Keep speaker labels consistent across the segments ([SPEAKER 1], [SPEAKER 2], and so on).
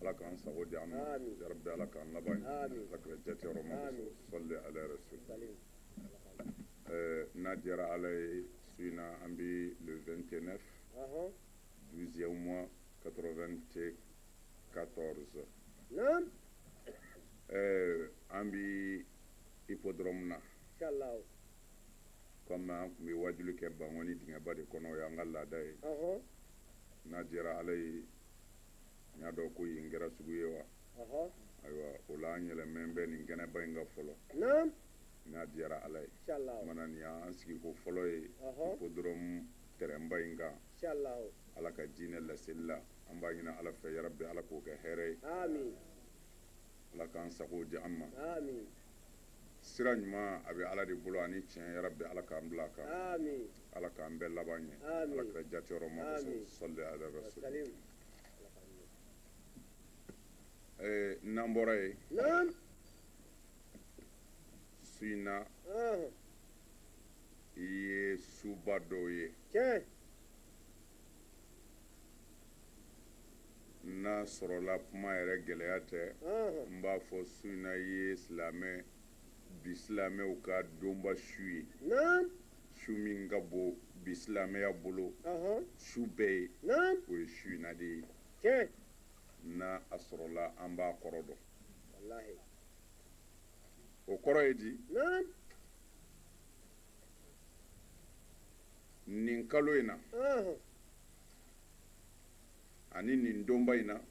[SPEAKER 1] ala k'an sago di an ma yarabi ala k'an laban ɲɛ ala kira jate yɔrɔ ma sɔli ala rasul n'a diyara ala ye su in na an bɛ le 29 12e mois 94 an bɛ hippodrome na comme an tun bɛ wajuli kɛ bankoni dingɛba de kɔnɔ o y'an ka laada ye n'a diyara ala ye n y'a dɔn ko yen kɛra sugu ye wa ayiwa o la an yɛlɛmanen bɛ nin kɛnɛba in kan fɔlɔ n'a diyara ala ye mana nin y'an sigiko fɔlɔ ye hippodrome tɛrɛnba in kan ala ka diinɛ laseli la an b'a ɲini ala fɛ yarabi ala k'o kɛ hɛrɛ ye ala k'an sago di an ma sira ɲuman a bɛ ala de bolo ani tiɲɛ yarabi ala k'an bila a kan ala k'an bɛɛ laban ɲɛ ala kira jateyɔrɔ ma sɔli ala rasul ee n'an bɔra yen su in na i ye suba dɔw ye n'a sɔrɔla kuma yɛrɛ gɛlɛya tɛ n b'a fɔ su in na i ye silamɛ bi silamɛw ka donba su ye su min ka bon bi silamɛya bolo su bɛɛ ye o ye su in na de ye n'a a sɔrɔla an b'a kɔrɔ dɔn o kɔrɔ ye di nin kalo in na ani nin donba in na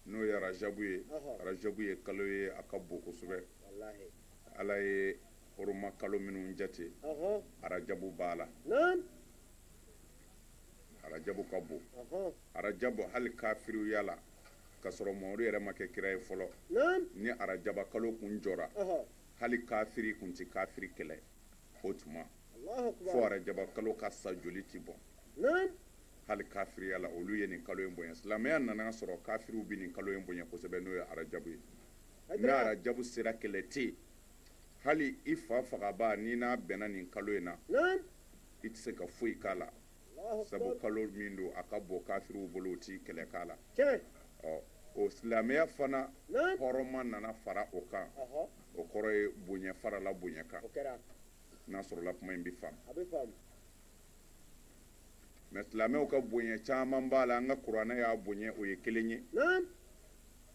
[SPEAKER 1] n'o ye arajabu ye arajabu ye kalo ye a ka bon kosɛbɛ ala ye hɔrɔma kalo minnu jate arajabu b'a la arajabu ka bon arajabu hali kafiriya la ka sɔrɔ mamadu yɛrɛ ma kɛ kira ye fɔlɔ ni arajaba kalo kun jɔra hali kafiri kun tɛ kafiri kɛlɛ o tuma fo arajaba kalo ka sa joli tɛ bɔn hali kafiriya la olu ye nin kalo in bonya silamɛya nana sɔrɔ kafiriw bɛ nin kalo in bonya kosɛbɛ n'o ye arajabu ye ni arajabu sera kɛlɛ tɛ hali i fa fagabaa n'i n'a bɛnna nin kalo in na i tɛ se ka foyi k'a la sabu kalo min don a ka bon kafiriw bolo u tɛ kɛlɛ k'a la ɔ o silamɛya fana hɔrɔma nana fara o kan o kɔrɔ ye bonya farala bonya kan n'a sɔrɔla kuma in bɛ faamu mɛ silamɛw ka bonya caman b'a la an ka kuranɛ y'a bonya o ye kelen ye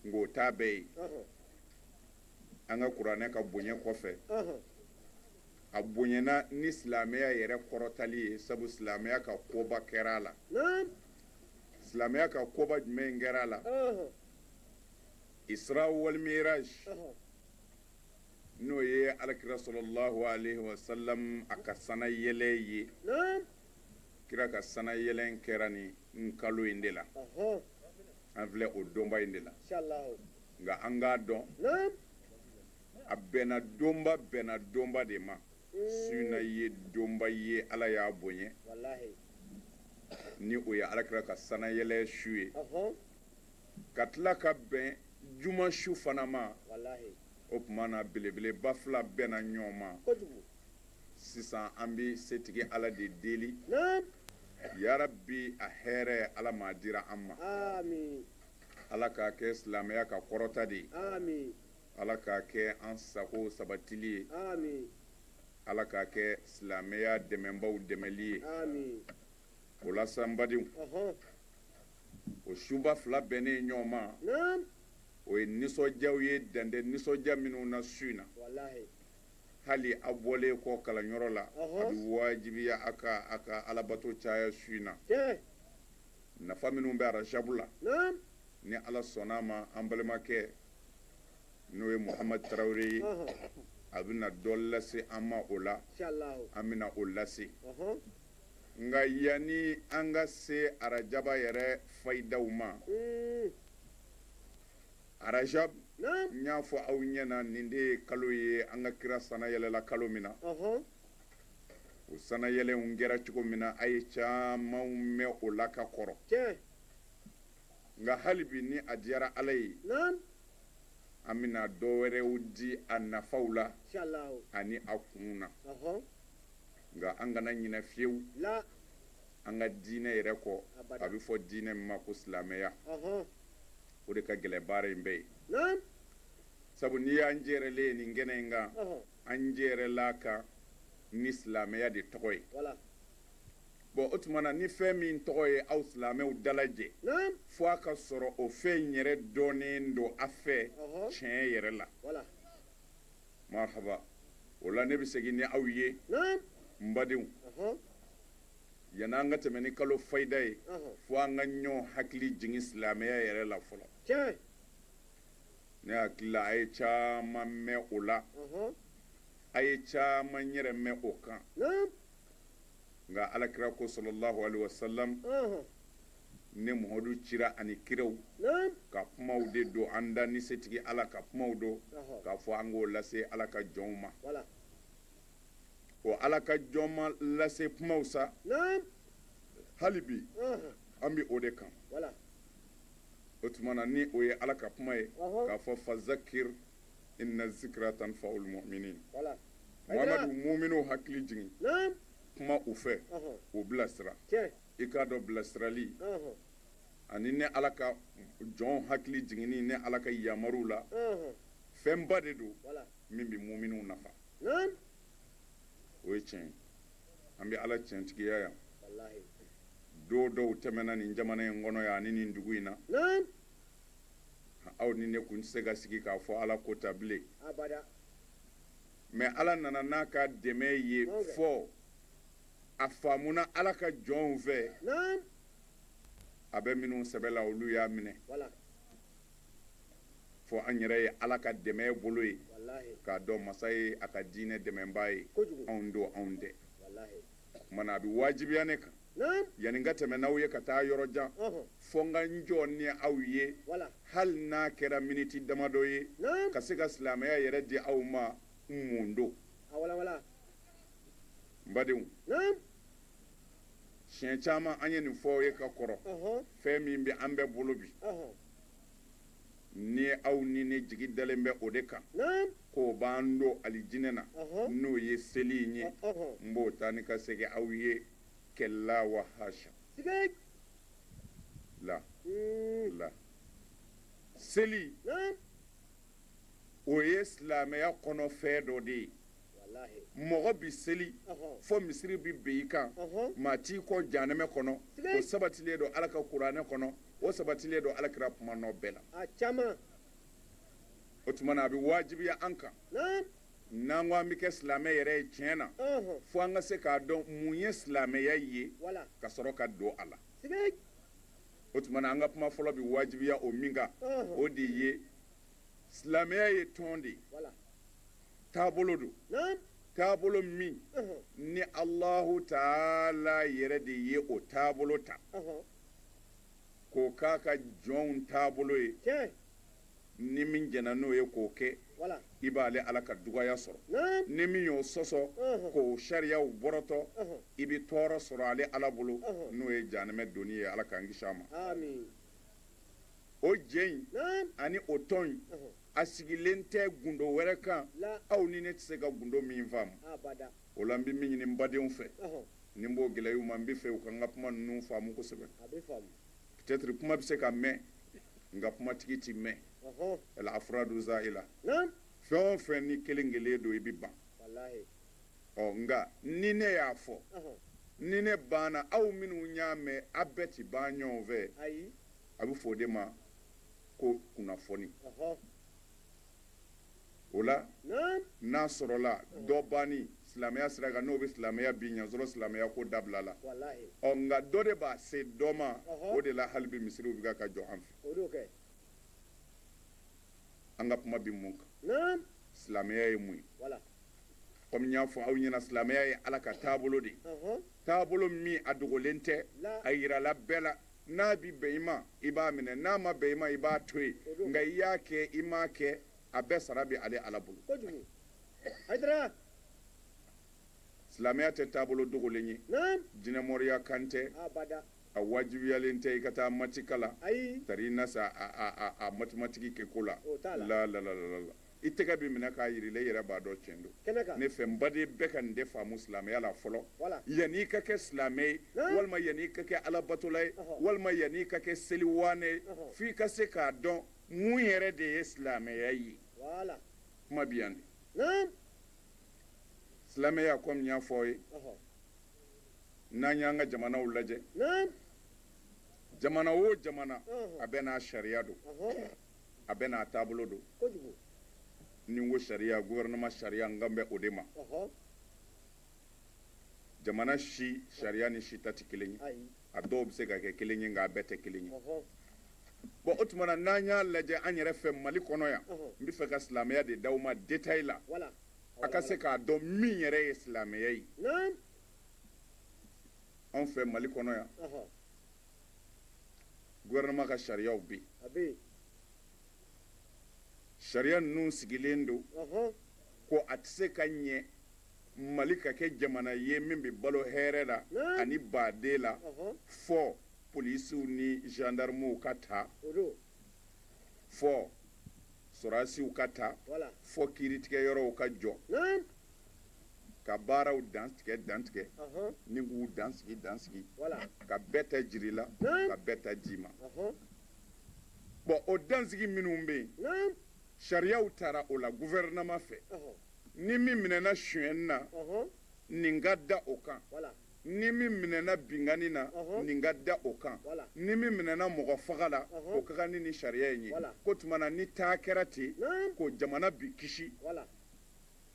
[SPEAKER 1] nka o t'a bɛɛ ye an ka kuranɛ ka bonya kɔfɛ a bonyana ni silamɛya yɛrɛ kɔrɔtali ye sabu silamɛya ka koba kɛra a la silamɛya ka koba jumɛn kɛra a la Isra wal Miraj n'o ye alakira sallallahu alaihi wa sallam a ka sana yɛlɛ ye kira ka sana yɛlɛ kɛra nin kalo in de la an filɛ o donba in de la nka an k'a dɔn a bɛnna donba bɛnna donba de ma su in na ye donba ye ala y'a bonya ni o ye alakira ka sanayɛlɛ su ye ka tila ka bɛn juma su fana ma o tuma na belebeleba fila bɛnna ɲɔgɔn ma sisan an bɛ setigi ala de deli yarabi a hɛrɛ ala m'a dira an ma Ala k'a kɛ silamɛya ka kɔrɔta de ye ala k'a kɛ an sago sabatili ye ala k'a kɛ silamɛya dɛmɛbaw dɛmɛli ye o la sa n badenw o suba fila bɛnnen ɲɔgɔn ma o ye nisɔndiyaw ye dan tɛ nisɔndiya minnu na su in na hali a bɔlen kɔ kalanyɔrɔ la a bɛ wajibiya a kan a ka alabato caya su in na nafa minnu bɛ arajabu la ni ala sɔnna a ma an balimakɛ n'o ye muhamadu tarawele ye a bɛna dɔ lase an ma o la an bɛna o lase nka yanni an ka se arajaba yɛrɛ fayidaw ma arajabu n y'a fɔ aw ɲɛ na nin de ye kalo ye an ka kira sana yɛlɛla kalo min na o sanayɛlɛnw kɛra cogo min na a ye camanw mɛn o la ka kɔrɔ nka hali bi ni a diyara ala ye an bɛna dɔ wɛrɛw di a nafaw la ani a kunw na nka an kana ɲinɛ fiyewu an ka diinɛ yɛrɛ kɔ a bɛ fɔ diinɛ min ma ko silamɛya o de ka gɛlɛn baara in bɛɛ ye sabu n'i y'an jɛrɛlen ye nin kɛnɛ in kan an jɛrɛla a kan ni silamɛya de tɔgɔ ye bon o tuma na ni fɛn min tɔgɔ ye aw silamɛw dalajɛ fo a ka sɔrɔ o fɛn yɛrɛ dɔnnen don a fɛ tiɲɛ yɛrɛ la marhaba o la ne bɛ segin ni aw ye n badenw yanni an ka tɛmɛ ni kalo fayida ye fo an ka ɲɔgɔn hakili jigin silamɛya yɛrɛ la fɔlɔ Ne hakili la a ye caman mɛn o la a ye caman yɛrɛ mɛn o kan nka alakira ko sallallahu alaihi wasallam ne muhamadu cira ani kiraw ka kumaw de don an dan ni setigi ala ka kumaw don k'a fɔ an k'o lase ala ka jɔnw ma o ala ka jɔn ma lase kumaw sa hali bi an bɛ o de kan o tuma na ni o ye ala ka kuma ye k'a fɔ fazakir inna zikra tanfaul mu'minin voilà mamadu mu'minu hakili jigin naam kuma u fɛ u bilasira tiɲɛ i k'a dɔn bilasirali ani ne ala ka jɔnw hakili jiginni ne ala ka yamaruw la fɛnba de don min bɛ mu'minu nafa naam o ye tiɲɛ ye an bɛ ala tiɲɛtigiya yan don dɔw tɛmɛna nin jamana in kɔnɔ yan ani nin dugu in na aw ni ne kun tɛ se ka sigi k'a fɔ ala ko ta bilen mais ala nana n'a ka dɛmɛ ye fo a faamuna ala ka jɔnw fɛ a bɛ minnu sɛbɛ la olu y'a minɛ fo an yɛrɛ ye ala ka dɛmɛ bolo ye k'a dɔn masa ye a ka diinɛ dɛmɛbaa ye anw don anw tɛ o tumana a bɛ wajibiya ne kan yanni n ka tɛmɛ n'aw ye ka taa yɔrɔ jan fo n ka n jɔ ni aw ye hali n'a kɛra miniti damadɔ ye ka se ka silamɛya yɛrɛ di aw ma mun don n badenw siɲɛ caman an ye nin fɔ aw ye ka kɔrɔ fɛn min bɛ an bɛɛ bolo bi ni aw ni ne jigi dalen bɛ o de kan k'o b'an don alijinɛ na n'o ye seli in ye n b'o taa ni ka segin aw ye kalla wa hasha la la seli o ye silamɛya kɔnɔfɛn dɔ de ye mɔgɔ bi seli fo misiri bi bin i kan maa t'i kɔn janɛmɛ kɔnɔ o sabatilen don ala ka kuranɛ kɔnɔ o sabatilen don alakira kuma nɔ bɛɛ la o tumana a bɛ wajibiya an kan n'an ko an bɛ kɛ silamɛ yɛrɛ ye tiɲɛ na fo an ka se k'a dɔn mun ye silamɛya ye ka sɔrɔ ka don a la o tumana an ka kuma fɔlɔ bɛ wajibiya o min kan o de ye silamɛya ye tɔn de ye taabolo don taabolo min ni alahu taala yɛrɛ de ye o taabolo ta k'o k'a ka jɔnw taabolo ye ni min jɛnna n'o ye k'o kɛ i b'ale ala ka dugaya sɔrɔ ni min y'o sɔsɔ k'o sariyaw bɔrɔtɔ i bɛ tɔɔrɔ sɔrɔ ale ala bolo n'o ye janɛmɛ donni ye ala k'an kisi a ma o jɛ in ani o tɔn in a sigilen tɛ gundo wɛrɛ kan aw ni ne tɛ se ka gundo min faamu o la n bɛ min ɲini n badenw fɛ ni n b'o gɛlɛya u ma n bɛ fɛ u ka n ka kuma ninnu faamu kosɛbɛ peut-être kuma bɛ se ka mɛn nka kumatigi tɛ mɛn al-afradu za'ila fɛn o fɛn ni kelen kelen don i bɛ ban ɔ nka ni ne y'a fɔ ni ne banna aw minnu y'a mɛn aw bɛɛ tɛ ban ɲɔgɔn fɛ a bɛ fɔ o de ma ko kunnafoni o la n'a sɔrɔla dɔ banni silamɛya sira kan n'o bɛ silamɛya bin y'a sɔrɔ silamɛya ko dabilala ɔ nka dɔ de b'a se dɔ ma o de la hali bi misiriw bɛ ka jɔ an fɛ an ka kuma bɛ mun kan silamɛya ye mun ye kɔmi n y'a fɔ aw ɲɛna silamɛya ye ala ka taabolo de ye taabolo min a dogolen tɛ a yirala bɛɛ la n'a bi bɛn i ma i b'a minɛ n'a ma bɛn i ma i b'a to yen nka i y'a kɛ i m'a kɛ a bɛɛ sara bɛ ale ala bolo silamɛya tɛ taabolo dogolen ye jinɛmoriya kan tɛ a wajibiyalen tɛ i ka taa matikala tari i na sa a matimatigi kɛ ko la la la i tɛgɛ bɛ minɛ k'a yira i la i yɛrɛ b'a dɔn tiɲɛ don kɛnɛ kan ne fɛ n baden bɛɛ ka nin de faamu silamɛya la fɔlɔ Voilà. yanni i ka kɛ silamɛ ye Naam. walima yanni i ka kɛ alabatola ye Ɔhɔ. walima yanni i ka kɛ seliwaane ye Ɔhɔ. f'i ka se k'a dɔn mun yɛrɛ de ye silamɛya ye voilà kuma bɛ yan de naam silamɛya kɔmi n y'a fɔ aw ye ɔhɔ n'an y'an ka jamanaw lajɛ naam jamana o jamana Ɔhɔ. a bɛɛ n'a sariya don ɔhɔ a bɛɛ n'a taabolo don ni n ko sariya gouvernement sariya n kan bɛ o de ma jamana si sariya ni si ta tɛ kelen ye a dɔw bɛ se ka kɛ kelen ye nka a bɛɛ tɛ kelen ye bon o tuma na n'an y'a lajɛ an yɛrɛ fɛ mali kɔnɔ yan n bɛ fɛ ka silamɛya de d'aw ma detail la a ka se k'a dɔn min yɛrɛ ye silamɛya ye anw fɛ mali kɔnɔ yan gouvernement ka sariyaw bɛ yen sariya ninnu sigilen don ko a tɛ se ka ɲɛ mali ka kɛ jamana ye min bɛ balo hɛrɛ la ani badenya la fo polisiw ni gendarmew ka ta fɔ sɔrasiw ka ta fɔ kiiritigɛ yɔrɔw ka jɔ ka baaraw dantigɛ dantigɛ ni k'u dansigi dansigi ka bɛɛ ta jir'i la ka bɛɛ ta d'i ma bon o dansigi minnu bɛ yen sariyaw tara o la gufɛrɛnama fɛ ni min minɛna sonyɛni na nin ka da o kan Ni min minɛna binkanni na, ɔnhɔn, nin ka da o kan, wala, ni min minɛna mɔgɔ faga la, ɔnhɔn, o ka kan ni nin sariya in ye, wala, k'o tuma na ni taa kɛra ten, naamu, ko jamana bɛ kisi, wala,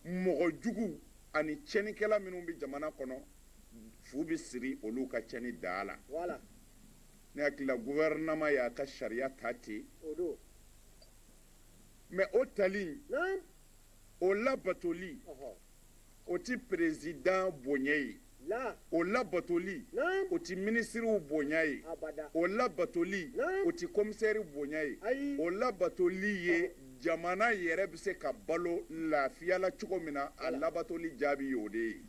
[SPEAKER 1] mɔgɔ jugu ani tiɲɛnikɛla minnu bɛ jamana kɔnɔ fu bɛ siri olu ka tiɲɛni da la, wala, ne hakili la gouvernement y'a ka sariya ta ten, o don, mais o tali in, naamu, o labatoli, ɔnhɔn. o ti perezidan bonya ye o labatoli o tɛ minisiriw bonya ye o labatoli o tɛ komisɛri bonya ye o labatoli ye jamana yɛrɛ bɛ se ka balo lafiya la cogo min na a labatoli jaabi ye o de ye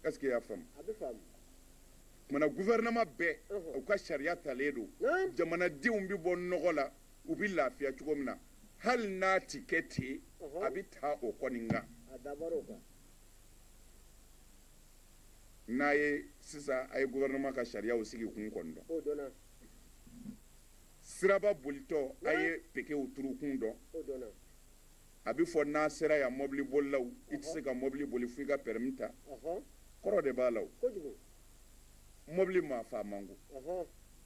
[SPEAKER 1] ɛseke i y'a faamu munna gufɛrɛnama bɛɛ u ka sariya talen don jamanadenw bɛ bɔ nɔgɔ la u bɛ lafiya cogo min na hali n'a ti kɛ ten a bɛ ta o kɔni kan n'a ye sisan a ye gouvernement ka sariyaw sigi kun kɔni dɔn siraba bolitɔ a ye pekew turu kun dɔn a bɛ fɔ n'a sera yan mɔbili bolilaw i tɛ se ka mɔbili boli f'i ka permis ta kɔrɔ de b'a la o mɔbili maa faa man go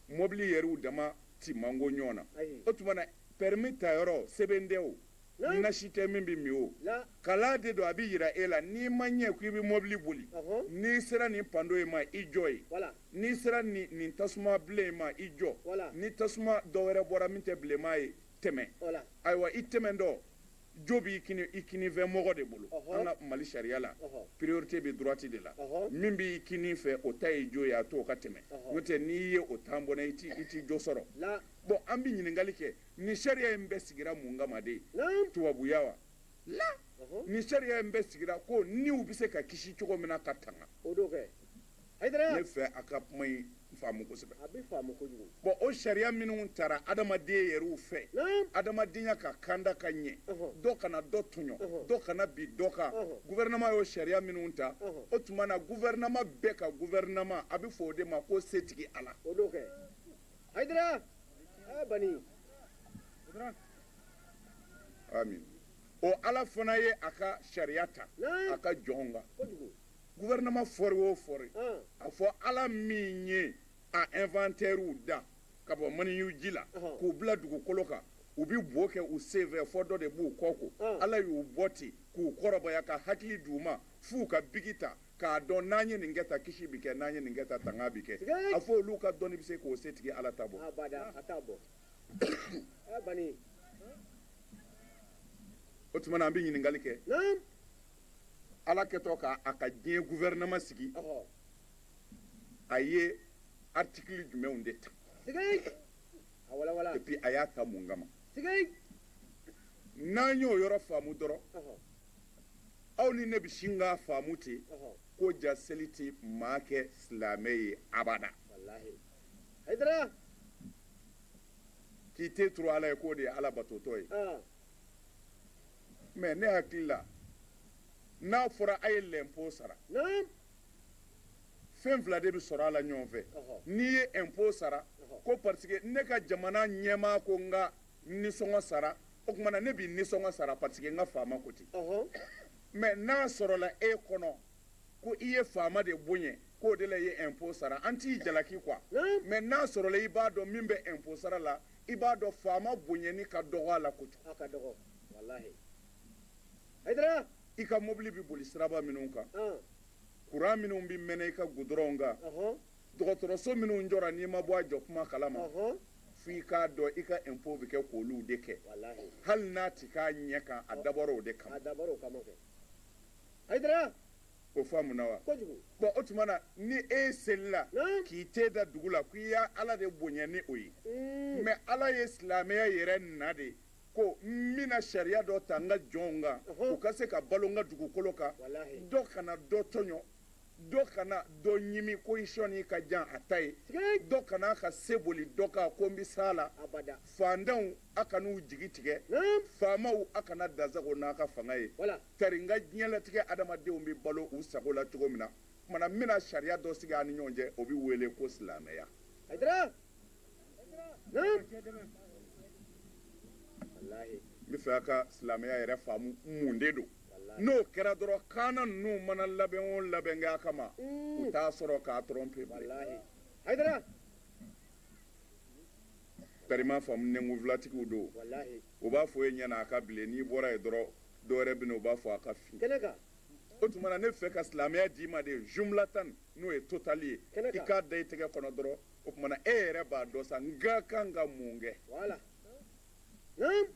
[SPEAKER 1] mɔbili yɛrɛw dama ti maga ɲɔgɔn na o tuma na pɛrɛmi ta yɔrɔ sɛbɛn tɛ o nasi tɛ min bɛ min o kalan de don a bɛ jira e la n'i ma ɲɛ ko i bɛ mɔbili boli n'i sera nin pando in ma i jɔ yen n'i sera nin tasuma bilen in ma i jɔ ni tasuma dɔ wɛrɛ bɔra min tɛ bilenman ye tɛmɛ ayiwa i tɛmɛtɔ jo b'i kinin fɛ mɔgɔ de bolo an ka mali sariya la priorité bɛ droite de la min b'i kinin fɛ o ta ye jo ye a to o ka tɛmɛ n'o tɛ n'i ye o tan bon i ti jo sɔrɔ bon an bɛ ɲininkali kɛ nin sariya in bɛɛ sigira mun kama de tubabuya wala nin sariya in bɛɛ sigira ko niw bɛ se ka kisi cogo min na ka tan ne fɛ a ka kuma in faamu kosɛbɛ bon o sariya minnu tara adamaden yɛrɛw fɛ adamadenya ka kanda ka ɲɛ dɔ kana dɔ tɔɲɔ dɔ kana bin dɔ kan guvɛrɛnama y'o sariya minnu ta o tuma na guvɛrɛnama bɛɛ ka guvɛrɛnama a bɛ fɔ o de ma ko setigi ala ami o ala fana ye a ka sariya ta a ka jɔnw kan gouvernement fɔri o fɔri a fɔ ala min ye a inventeurw da ka bɔ maniyu ji la k'u bila dugukolo kan u bi bo kɛ u sen fɛ fɔ dɔ de b'u kɔ ko ala y'u bɔ ten k'u kɔrɔbaya ka hakili d'u ma f'u ka bigi ta k'a dɔn n'an ye nin kɛ ta kisi bi kɛ n'an ye nin kɛ ta tanga bi kɛ a fɔ olu ka dɔnni bi se k'o setigi ala ta bɔ o tuma na an bɛ ɲininkali kɛ ala kɛtɔ k'a ka diɲɛ gouvernement sigi a ye article jumɛnw de ta et puis a y'a ta mun kama n'an y'o yɔrɔ faamu dɔrɔn aw ni ne bɛ sin k'a faamu ten ko ja seli tɛ maa kɛ silamɛ ye abada k'i te turu ala ye k'o de ye ala batotɔ ye mɛ ne hakili la n'a fɔra a ye l'impôt sara fɛn fila de bɛ sɔrɔ a la ɲɔgɔn fɛ n'i ye impôt sara ko parce que ne ka jamana ɲɛmaa ko n ka nisɔngɔ sara o tuma na ne bi nisɔngɔ sara parce que n ka faama ko ten mɛ n'a sɔrɔla e kɔnɔ ko i ye faama de bonya k'o de la i ye impôt sara an t'i jalaki quoi mɛ n'a sɔrɔla i b'a dɔn min bɛ impôt sara la i b'a dɔn faama bonyani ka dɔgɔ a la kojugu
[SPEAKER 2] i ka
[SPEAKER 1] mobili bɛ boli siraba minnu kan kuran minnu bɛ mɛnɛ i ka gudɔrɔnw kan dɔgɔtɔrɔso minnu jɔra n'i ma bɔ a jɔ kuma kalama fo i k'a dɔn i ka impôt bɛ kɛ k'olu de kɛ hali n'a tɛ k'a ɲɛ kan a dabɔra o de kama
[SPEAKER 2] Hayidara o
[SPEAKER 1] faamuna wa bon o tuma na ni e selila k'i te da dugu la ko i ye ala de bonya ni o ye mɛ ala ye silamɛya yɛrɛ na de ko n bɛna sariya dɔ ta n ka jɔnw kan u ka se ka balo n ka dugukolo kan dɔ kana dɔ tɔɲɔ dɔ kana dɔ ɲimi ko i sɔnni ka jan a ta ye dɔ kana ka se boli dɔ kan ko n bɛ s'a la fantanw a kan'u jigi tigɛ faamaw a kana dansago n'a ka fanga ye tari n ka diɲɛlatigɛ adamadenw bɛ balo u sago la cogo min na o tuma na n bɛna sariya dɔ sigi a ni ɲɔgɔn cɛ o bɛ wele ko silamɛya n b'a fɛ a ka silamɛya yɛrɛ faamu mun de don n'o kɛra dɔrɔn kaana ninnu mana labɛn o labɛn kɛ a kama u t'a sɔrɔ k'a tromper tari m'a faamu nɛnkunfilatigiw don u b'a fɔ e ɲɛna a ka bilen n'i bɔra yen dɔrɔn dɔwɛrɛ bɛ na u b'a fɔ a ka fin o tuma na ne fɛ ka silamɛya d'i ma de jumlatan n'o ye totali ye i k'a da i tɛgɛ kɔnɔ dɔrɔn o tumana e yɛrɛ b'a dɔn sa n ka kan ka mun kɛ wala naam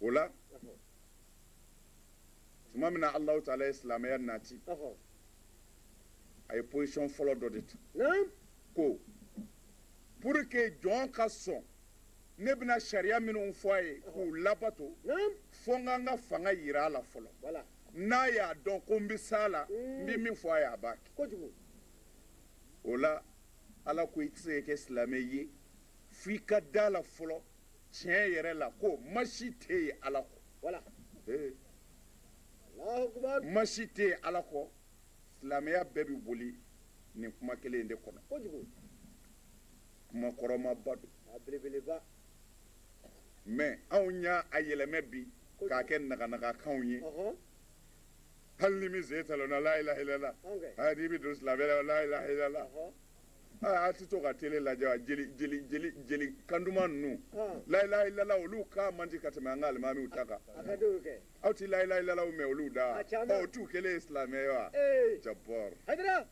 [SPEAKER 1] o la tuma min na alahu taala ye silamɛya nati a ye position fɔlɔ dɔ de ta naam ko pour que jɔn ka sɔn ne bɛna sariya minnu fɔ a ye k'u labato fo n ka n ka fanga yira a la fɔlɔ n'a y'a dɔn ko n bɛ s'a la n bɛ min fɔ a ye a b'a kɛ o la ala ko i tɛ se ka kɛ silamɛ ye fo i ka da la fɔlɔ tiɲɛ yɛrɛ la ko ma si tɛ yen ala kɔ ma si tɛ yen ala kɔ silamɛya bɛɛ bɛ boli nin kuma kelen in de kɔnɔ kuma kɔrɔmaba don mɛ anw y'a yɛlɛmɛ bi k'a kɛ naganagakanw ye hali ni min sen talonna la ilaha illallah aa n'i bɛ don silamɛya la la ilaha illallah aa a tɛ to ka tele lajɛ wa jeli kan duman ninnu la ilaha illallah olu kan man di ka tɛmɛ an ka alimamiw ta kan aw tɛ la ilaha illallah mɛn olu da o t'u kɛlen ye silamɛ ye wa d'abord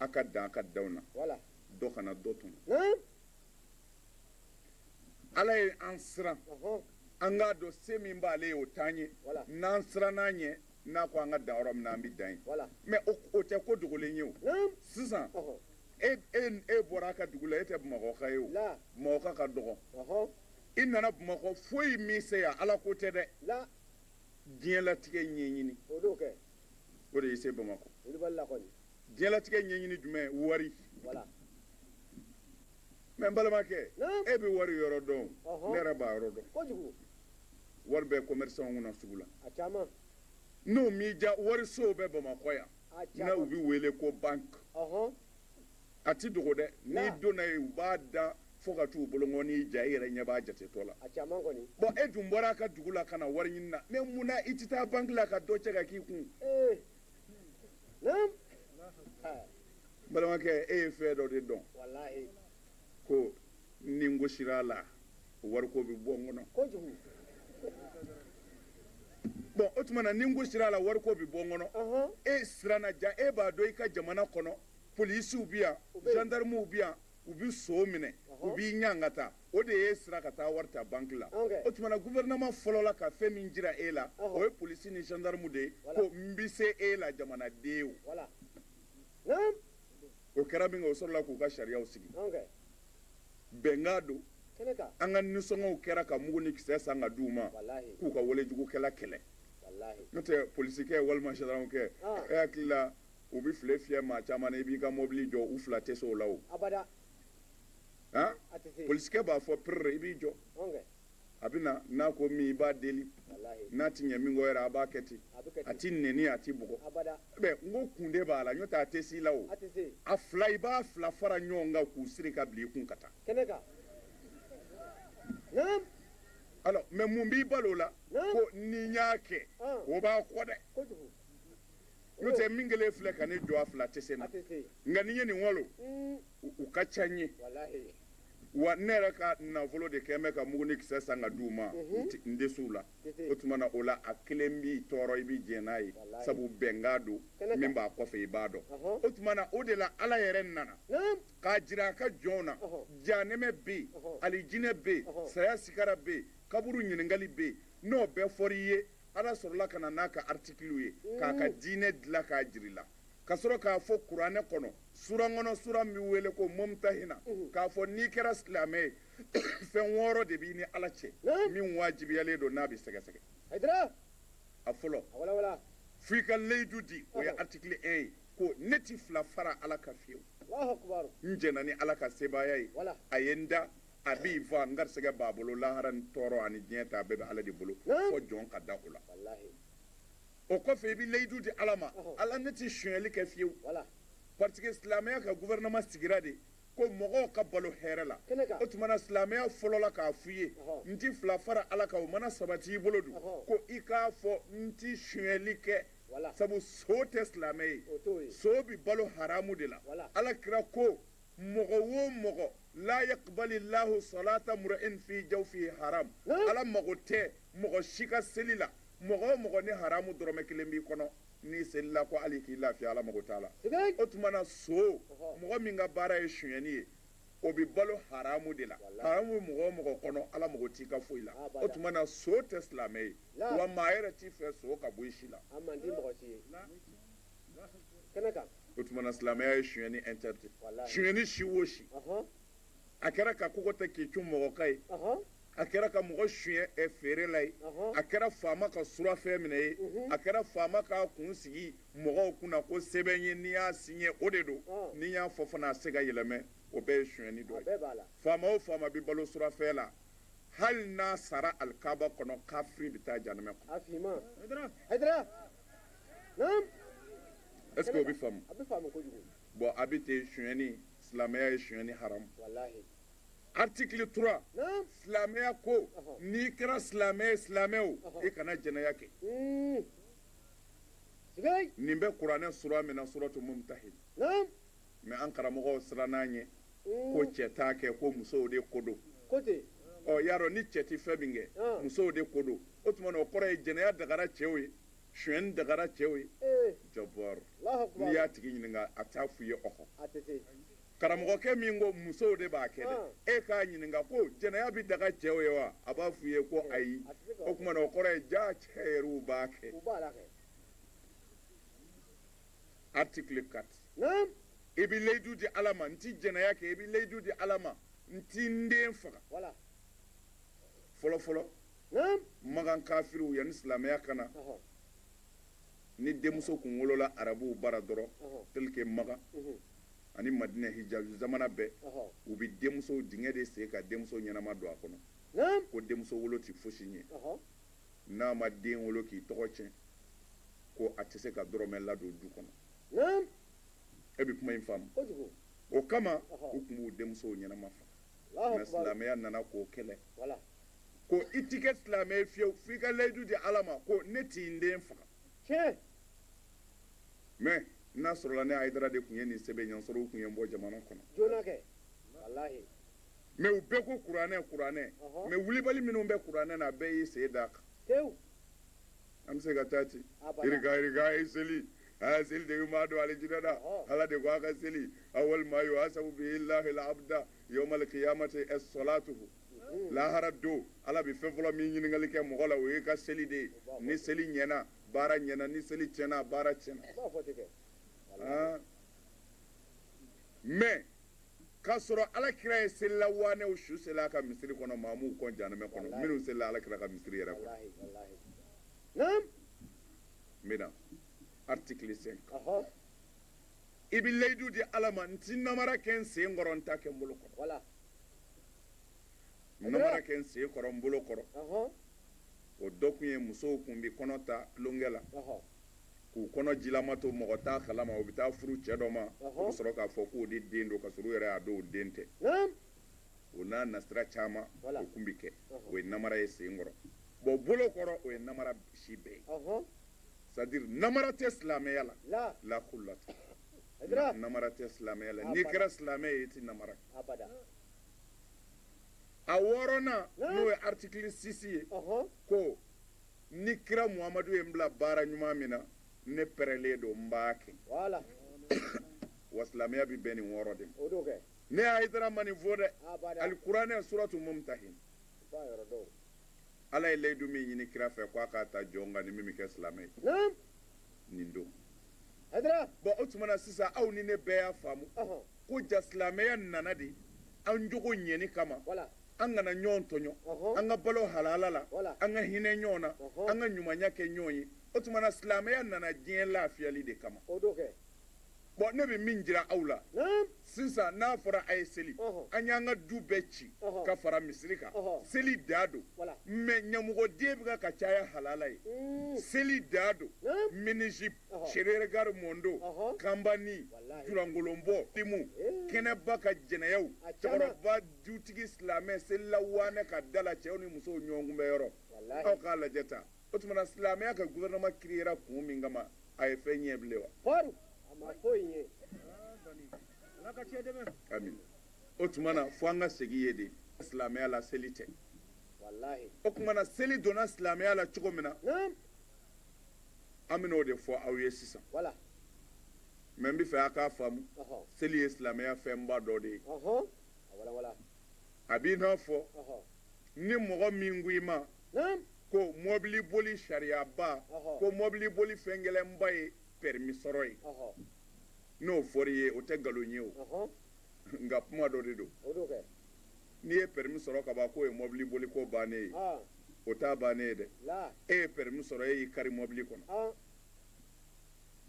[SPEAKER 1] a ka dan a ka danw na dɔ kana dɔ tɔn ala ye an siran an k'a dɔn se min b'ale ye o t'an ye n'an siranna a ɲɛ n'a ko an ka dan yɔrɔ min na an bɛ dan yen mɛ o tɛ ko dogolen ye o sisan e bɔra a ka dugu la e tɛ bamakɔka ye o bamakɔka ka dɔgɔ i nana bamakɔ foyi m'i se yan ala ko tɛ dɛ diɲɛlatigɛ ɲɛɲini o de y'i se bamakɔ diɲɛlatigɛ ɲɛɲini jumɛn wari mɛ n balimakɛ e bɛ wari yɔrɔ dɔn ne yɛrɛ b'a yɔrɔ dɔn wari bɛ kɔmɛrisanw kunna sugu la n'o m'i diya warisow bɛ bamakɔ yan n'u bɛ wele ko banki a tɛ dogo dɛ n'i donna yen u b'a dan fo ka t'u bolongɔni ja i yɛrɛ ɲɛ b'a jatetɔ la bɔn e dun bɔra a ka dugu la ka na wari ɲini na mɛ mun na i tɛ taa banki la ka dɔ cɛ ka k'i kun balimakɛ e ye fɛn dɔ de dɔn ko ni n gosira a la wariko bɛ bɔ n kɔnɔ bɔn o tuma na ni n gosira a la wariko bɛ bɔ n kɔnɔ e siranna ja e b'a dɔn i ka jamana kɔnɔ polisiw bɛ yan zandaramuw bɛ yan u bɛ son minɛ u b'i ɲan ka taa o de y'i siran ka taa wari ta banki la o tumana gouvernement fɔlɔla ka fɛn min jira e la o ye polisi ni zandaramu de ye ko n bɛ se e la jamanaden o o kɛra minkɛ o sɔrɔla k'u ka sariyaw sigi bɛnkan don an ka nisɔngɔw kɛra ka mugu ni kisɛ san ka d'u ma k'u ka walejugukɛla kɛlɛ n'o tɛ polisikɛ walima zandaramukɛ e hakili la u bɛ file fiyɛ maa caman na i b'i ka mɔbili jɔ u fila tɛ se o la o abada han a tɛ se polisikɛ b'a fɔ perere i b'i jɔ ɔn kɛ a bɛ na n'a ko min i b'a deli walahi n'a ti ɲɛ min kɔ yɛrɛ a b'a kɛ ten a bɛ kɛ ten a t'i nɛni a t'i bugɔ abada bɛ n ko kun de b'a la n'o tɛ a tɛ s'i la o a tɛ se a fila i b'a fila fara ɲɔgɔn kan k'u siri ka bila i kun ka taa kɛnɛ kan naam alors mais mun b'i bali o la Naam. ko ni n y'a kɛ Ɔn. o b'a kɔ dɛ kojugu n'o tɛ min kɛlen filɛ ka ne jɔ a fila tɛ se n na nka ni n ye nin walo u ka ca n ye wa ne yɛrɛ ka nafolo de kɛlen bɛ ka mugu ni kisɛ san ka d'u ma n tɛ s'u la o tuma na o la a kelen b'i tɔɔrɔ i bɛ jɛn n'a ye sabu bɛnkan don min b'a kɔfɛ i b'a dɔn o tuma na o de la ala yɛrɛ nana k'a jira a ka jɔnw na janɛmɛ bɛ yen alijinɛ bɛ yen saya sikara bɛ yen kaburu ɲininkakali bɛ yen n'o bɛɛ fɔra i ye ala sɔrɔla ka na n'a ka article ye k'a ka diinɛ dilan k'a jira i la ka sɔrɔ k'a fɔ kuranɛ kɔnɔ sura kɔnɔ sura min bɛ wele ko mumtahina k'a fɔ n'i kɛra silamɛ ye fɛn wɔɔrɔ de b'i ni ala cɛ min wajibiyalen don n'a bɛ sɛgɛsɛgɛ a fɔlɔ fo i ka layidu di o ye article 1 ye ko ne tɛ fila fara ala kan fiyewu n jɛnna ni ala ka sebaaya ye a ye n da a bi n faga n garisɛgɛ b'a bolo lahara ni tɔɔrɔ ani diɲɛ ta a bɛɛ bɛ ala de bolo fo jɔn ka da o la o kɔfɛ i bɛ layidu di ala ma ala ne tɛ sonyali kɛ fiyewu parce que silamɛya ka gouvernement sigira de ko mɔgɔw ka balo hɛrɛ la o tuma na silamɛya fɔlɔla k'a f'i ye n ti fila fara ala kan o mana sabati i bolo dun ko i k'a fɔ n ti sonyali kɛ sabu son tɛ silamɛ ye son bi balo haramu de la ala kira ko mɔgɔ o mɔgɔ la yakbali lahu salata mura'in fi jawfi haram ala mago tɛ mɔgɔ si ka seli la mɔgɔ o mɔgɔ ni haramu dɔrɔmɛ kelen b'i kɔnɔ n'i selila ko hali k'i lafiya ala mago t'a la o tuma na son mɔgɔ min ka baara ye sonyɛni ye o bɛ balo haramu de la haramu bɛ mɔgɔ o mɔgɔ kɔnɔ ala mago t'i ka foyi la o tuma na son tɛ silamɛ ye wa maa yɛrɛ t'a fɛ son ka bɔ i si la o tumana silamɛya ye sonyani interdit sonyani si o si a kɛra ka kogo ta k'i cun mɔgɔ kan ye a kɛra ka mɔgɔ sonya eh, feere la ye a kɛra faama ka surafɛn minɛ ye mhm. a kɛra faama ka kun sigi mɔgɔw kunna ko sɛbɛn ye n'i y'a siɲɛ o de don n'i y'a fɔ fana a tɛ se ka yɛlɛmɛ o bɛɛ ye sonyani dɔ ye faama o faama bɛ balo surafɛn la hali n'a sara alikaba kɔnɔ kafiri bɛ taa janɛmɛ kɔnɔ Est-ce que o bɛ faamu? A bɛ faamu kojugu. Bon a bɛ ten sonyɛni silamɛya ye sonyɛni haramu. Walahi. Article 3 silamɛya ko n'i kɛra silamɛ ye silamɛ o i kana jɛnɛya kɛ. Nin bɛ kuranɛ sura min na suratu mumtahin. mais an karamɔgɔw sirann'a ɲɛ hmm. ko cɛ t'a kɛ ko musow de ko don ɔ y'a dɔn ni cɛ tɛ fɛn min kɛ hmm. musow de ko don o tuma na o kɔrɔ ye jɛnɛya dagara cɛw ye sonyɛni dagara cɛw ye eh. jɔbɔrɔ n'i y'a tigi ɲininka a t'a f'i ye ɔhɔ karamɔgɔkɛ min ko musow de b'a kɛ dɛ ah. e k'a ɲininka ko jɛnɛya bɛ daga cɛw ye wa a b'a f'i ye ko ayi o tuma na o kɔrɔ ye jaa cɛ yɛrɛw b'a kɛ article 4 naam i bɛ layidu di ala ma n ti jɛnɛya kɛ i bɛ layidu di ala ma n ti n den faga wala fɔlɔ fɔlɔ naam magan kafiriw yanni silamɛya ka na ɔhɔ ni denmuso kun wolola arabuw bara dɔrɔn ɔhɔ tel que magan mhm, ani madinɛ hijazu zamana bɛɛ ɔhɔ u bɛ denmuso dingɛ de sen ka denmuso ɲɛnama don a kɔnɔ naam ko denmuso wolo ti fosi ɲɛ ɔhɔ n'a ma den wolo k'i tɔgɔ tiɲɛ ko a tɛ se ka dɔrɔmɛ ladon du kɔnɔ naam e bɛ kuma in faamu kojugu o kama u kun b'u denmusow ɲɛnama faga mais silamɛya nana k'o kɛlɛ wala ko i ti kɛ silamɛ ye fiyewu f'i ka layidu di ala ma ko ne ti n den faga tiɲɛ mais n'a sɔrɔla ne hayidara de kun ye nin sɛbɛn yan sɔrɔ u kun ye n bɔ jamana kɔnɔ joona kɛ walahi mais u bɛɛ ko kuranɛ kuranɛ mais wulibali minnu bɛ kuranɛ na a bɛɛ y'i sen d'a kan tewu An bɛ se ka taa ten i ka seli a seli de bɛ maa don alijinɛ la ala de ko a' ka seli awwal ma yuhasabu bihi llahi al-abda yawm al-qiyamati as-salatuhu lahara don ala bɛ fɛn fɔlɔ min ɲininkakali kɛ mɔgɔ la o y'i ka seli de ye ni seli ɲɛna baara ɲɛna ni seli tiɲɛna baara tiɲɛna mais K'a sɔrɔ alakira ye selila waanɛw su seli a ka misiri kɔnɔ maa m'u kɔn jahanɛmɛ kɔnɔ walahi minnu selila alakira ka misiri yɛrɛ kɔnɔ walahi walahi naam n bɛ na article 5 ɔhɔ i bɛ layidu di ala ma n ti namara kɛ n sen kɔrɔ n t'a kɛ n bolo kɔrɔ wala n namara kɛ n sen kɔrɔ n bolo kɔrɔ ɔhɔ o dɔ kun ye musow kun bɛ kɔnɔ ta tulonkɛ la ɔhɔ k'u kɔnɔ jilama to mɔgɔ t'a kalama u bɛ taa furu cɛ dɔ ma u bɛ sɔrɔ k'a fɔ k'o de den don k'a sɔrɔ u yɛrɛ y'a dɔn o den tɛ o n'a nasira caman o kun bɛ kɛ o ye namara ye sen kɔrɔ bon bolo kɔrɔ o ye namara si bɛɛ ye c'est à dire namara tɛ silamɛya la lakurula namara tɛ silamɛya la n'i kɛra silamɛ ye i tɛ namara a wɔɔrɔnan n'o ye article 6 ye ko ni kira muhamadu ye n bila baara ɲuman min na ne pɛrɛlen don n b'a kɛ voilà wa silamɛya bɛ bɛn nin wɔɔrɔ de ma o don kɛ ne hayidara ma nin fɔ dɛ ah, alikuranɛ suratu mumtahin ala ye layidu min ɲini kira fɛ ko a k'a ta jɔn kan ni min bɛ kɛ silamɛ ye nin don bɔn o tuma na sisan aw ni ne bɛɛ y'a faamu ko ja silamɛya nana de an jogo ɲɛni kama an kana ɲɔgɔn tɔɲɔ an ka balo halala la an ka hinɛ ɲɔgɔn na an ka ɲumanya kɛ ɲɔgɔn ye o tuma na silamɛya nana diɲɛ lafiyali de kama bɔn ne bɛ min jira aw la sisan n'a fɔra a ye seli an y'an ka du bɛɛ ci ka fara misiri kan seli da don mɛ ɲamɔgɔden bɛ ka caya halala ye seli da don minijupu serererikari mɔdo kanban ni julankolonbɔ denmusomu kɛnɛba kan jɛnɛyaw cɛkɔrɔba dutigi silamɛ selila waanɛ ka da la cɛw ni musow ɲɔgɔn kunbɛn yɔrɔ aw k'a lajɛ tan o tuma na silamɛya ka gouvernement kiriyera kun min kama a ye fɛn ɲɛ bilen wa kɔri a ma foyi ɲɛ ala ka cɛ dɛmɛ amin o tuma na fo an ka segin ye de silamɛya la seli tɛ walahi o tuma na seli donna silamɛya la cogo min na an bɛn'o de fɔ aw ye sisan wala mɛ n b'a fɛ a k'a faamu seli ye silamɛya fɛnba dɔ de ye a b'i n'a fɔ ni mɔgɔ min ko i ma ko mɔbili boli sariyaba ko mɔbili boli fɛn gɛlɛnba ye pɛremi sɔrɔ ye n'o fɔra i ye o tɛ nkalon ye o nka kuma dɔ de don n'i ye pɛremi sɔrɔ ka ban k'o ye mɔbili boli ko bannen ye o t'a bannen ye dɛ e ye pɛremi sɔrɔ e y'i kari mɔbili kɔnɔ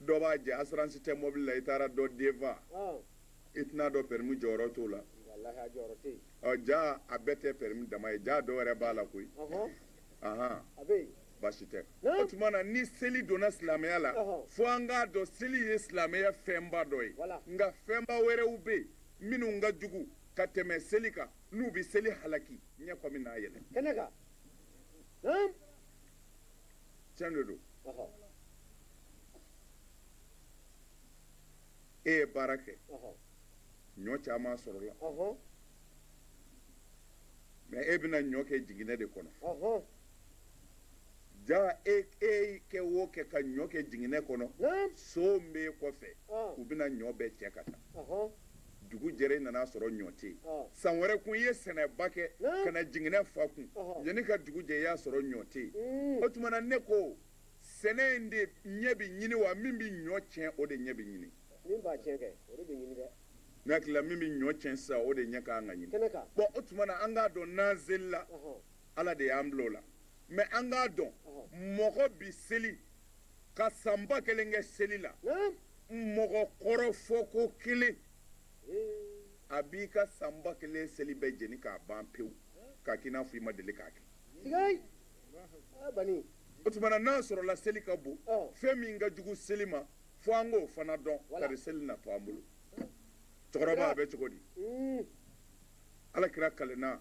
[SPEAKER 1] dɔ b'a jɛ asiransi tɛ mɔbili la i taara dɔ den faga i tɛn'a dɔn pɛremi jɔyɔrɔ t'o la ɔ ja a bɛɛ tɛ pɛremi dama ye ja dɔw yɛrɛ b'a la koyi ahan baasi tɛ o tuma na ni seli donna silamɛya la fo an k'a dɔn seli ye silamɛya fɛnba dɔ ye nka fɛnba wɛrɛw bɛ yen minnu ka jugu ka tɛmɛ seli kan n'u bɛ seli halaki ɲɛ kɔmi n'a yɛlɛ kɛnɛ kan tiɲɛ de don e ye baara kɛ ɲɔ caman sɔrɔla mɛ e bɛna ɲɔ kɛ jiginɛ de kɔnɔ ja e kɛ o kɛ ka ɲɔ kɛ jiginɛ kɔnɔ son bɛ e kɔfɛ u bɛna ɲɔ bɛɛ cɛ ka taa dugu jɛra e nan'a sɔrɔ ɲɔ tɛ yen san wɛrɛ kun i ye sɛnɛba kɛ ka na jiginɛ fa kun yanni ka dugu jɛ i y'a sɔrɔ ɲɔ tɛ yen o tuma ne ko sɛnɛ in de ɲɛ bɛ ɲini wa min bɛ ɲɔ tiɲɛ o de ɲɛ bɛ ɲini min b'a tiɲɛ kɛ o de bɛ ɲini dɛ ne hakili la min bɛ ɲɔ tiɲɛ sisan o de ɲɛ ka kan ka ɲini kɛnɛ kan bon o tuma na an k'a dɔn n'an selila ala de y'an bila o la mais an k'a dɔn mɔgɔ bi seli ka san ba kelen kɛ seli la mɔgɔ kɔrɔfɔ ko kelen a b'i ka san ba kelen seli bɛɛ jeni k'a ban pewu k'a k'i n'a fɔ i ma deli k'a kɛ o tuma na n'a sɔrɔla seli ka bon fɛn min ka jugu seli ma fo an k'o fana dɔn kari seli na to an bolo cɛkɔrɔba a bɛ cogo di hmm. ala kira kalenna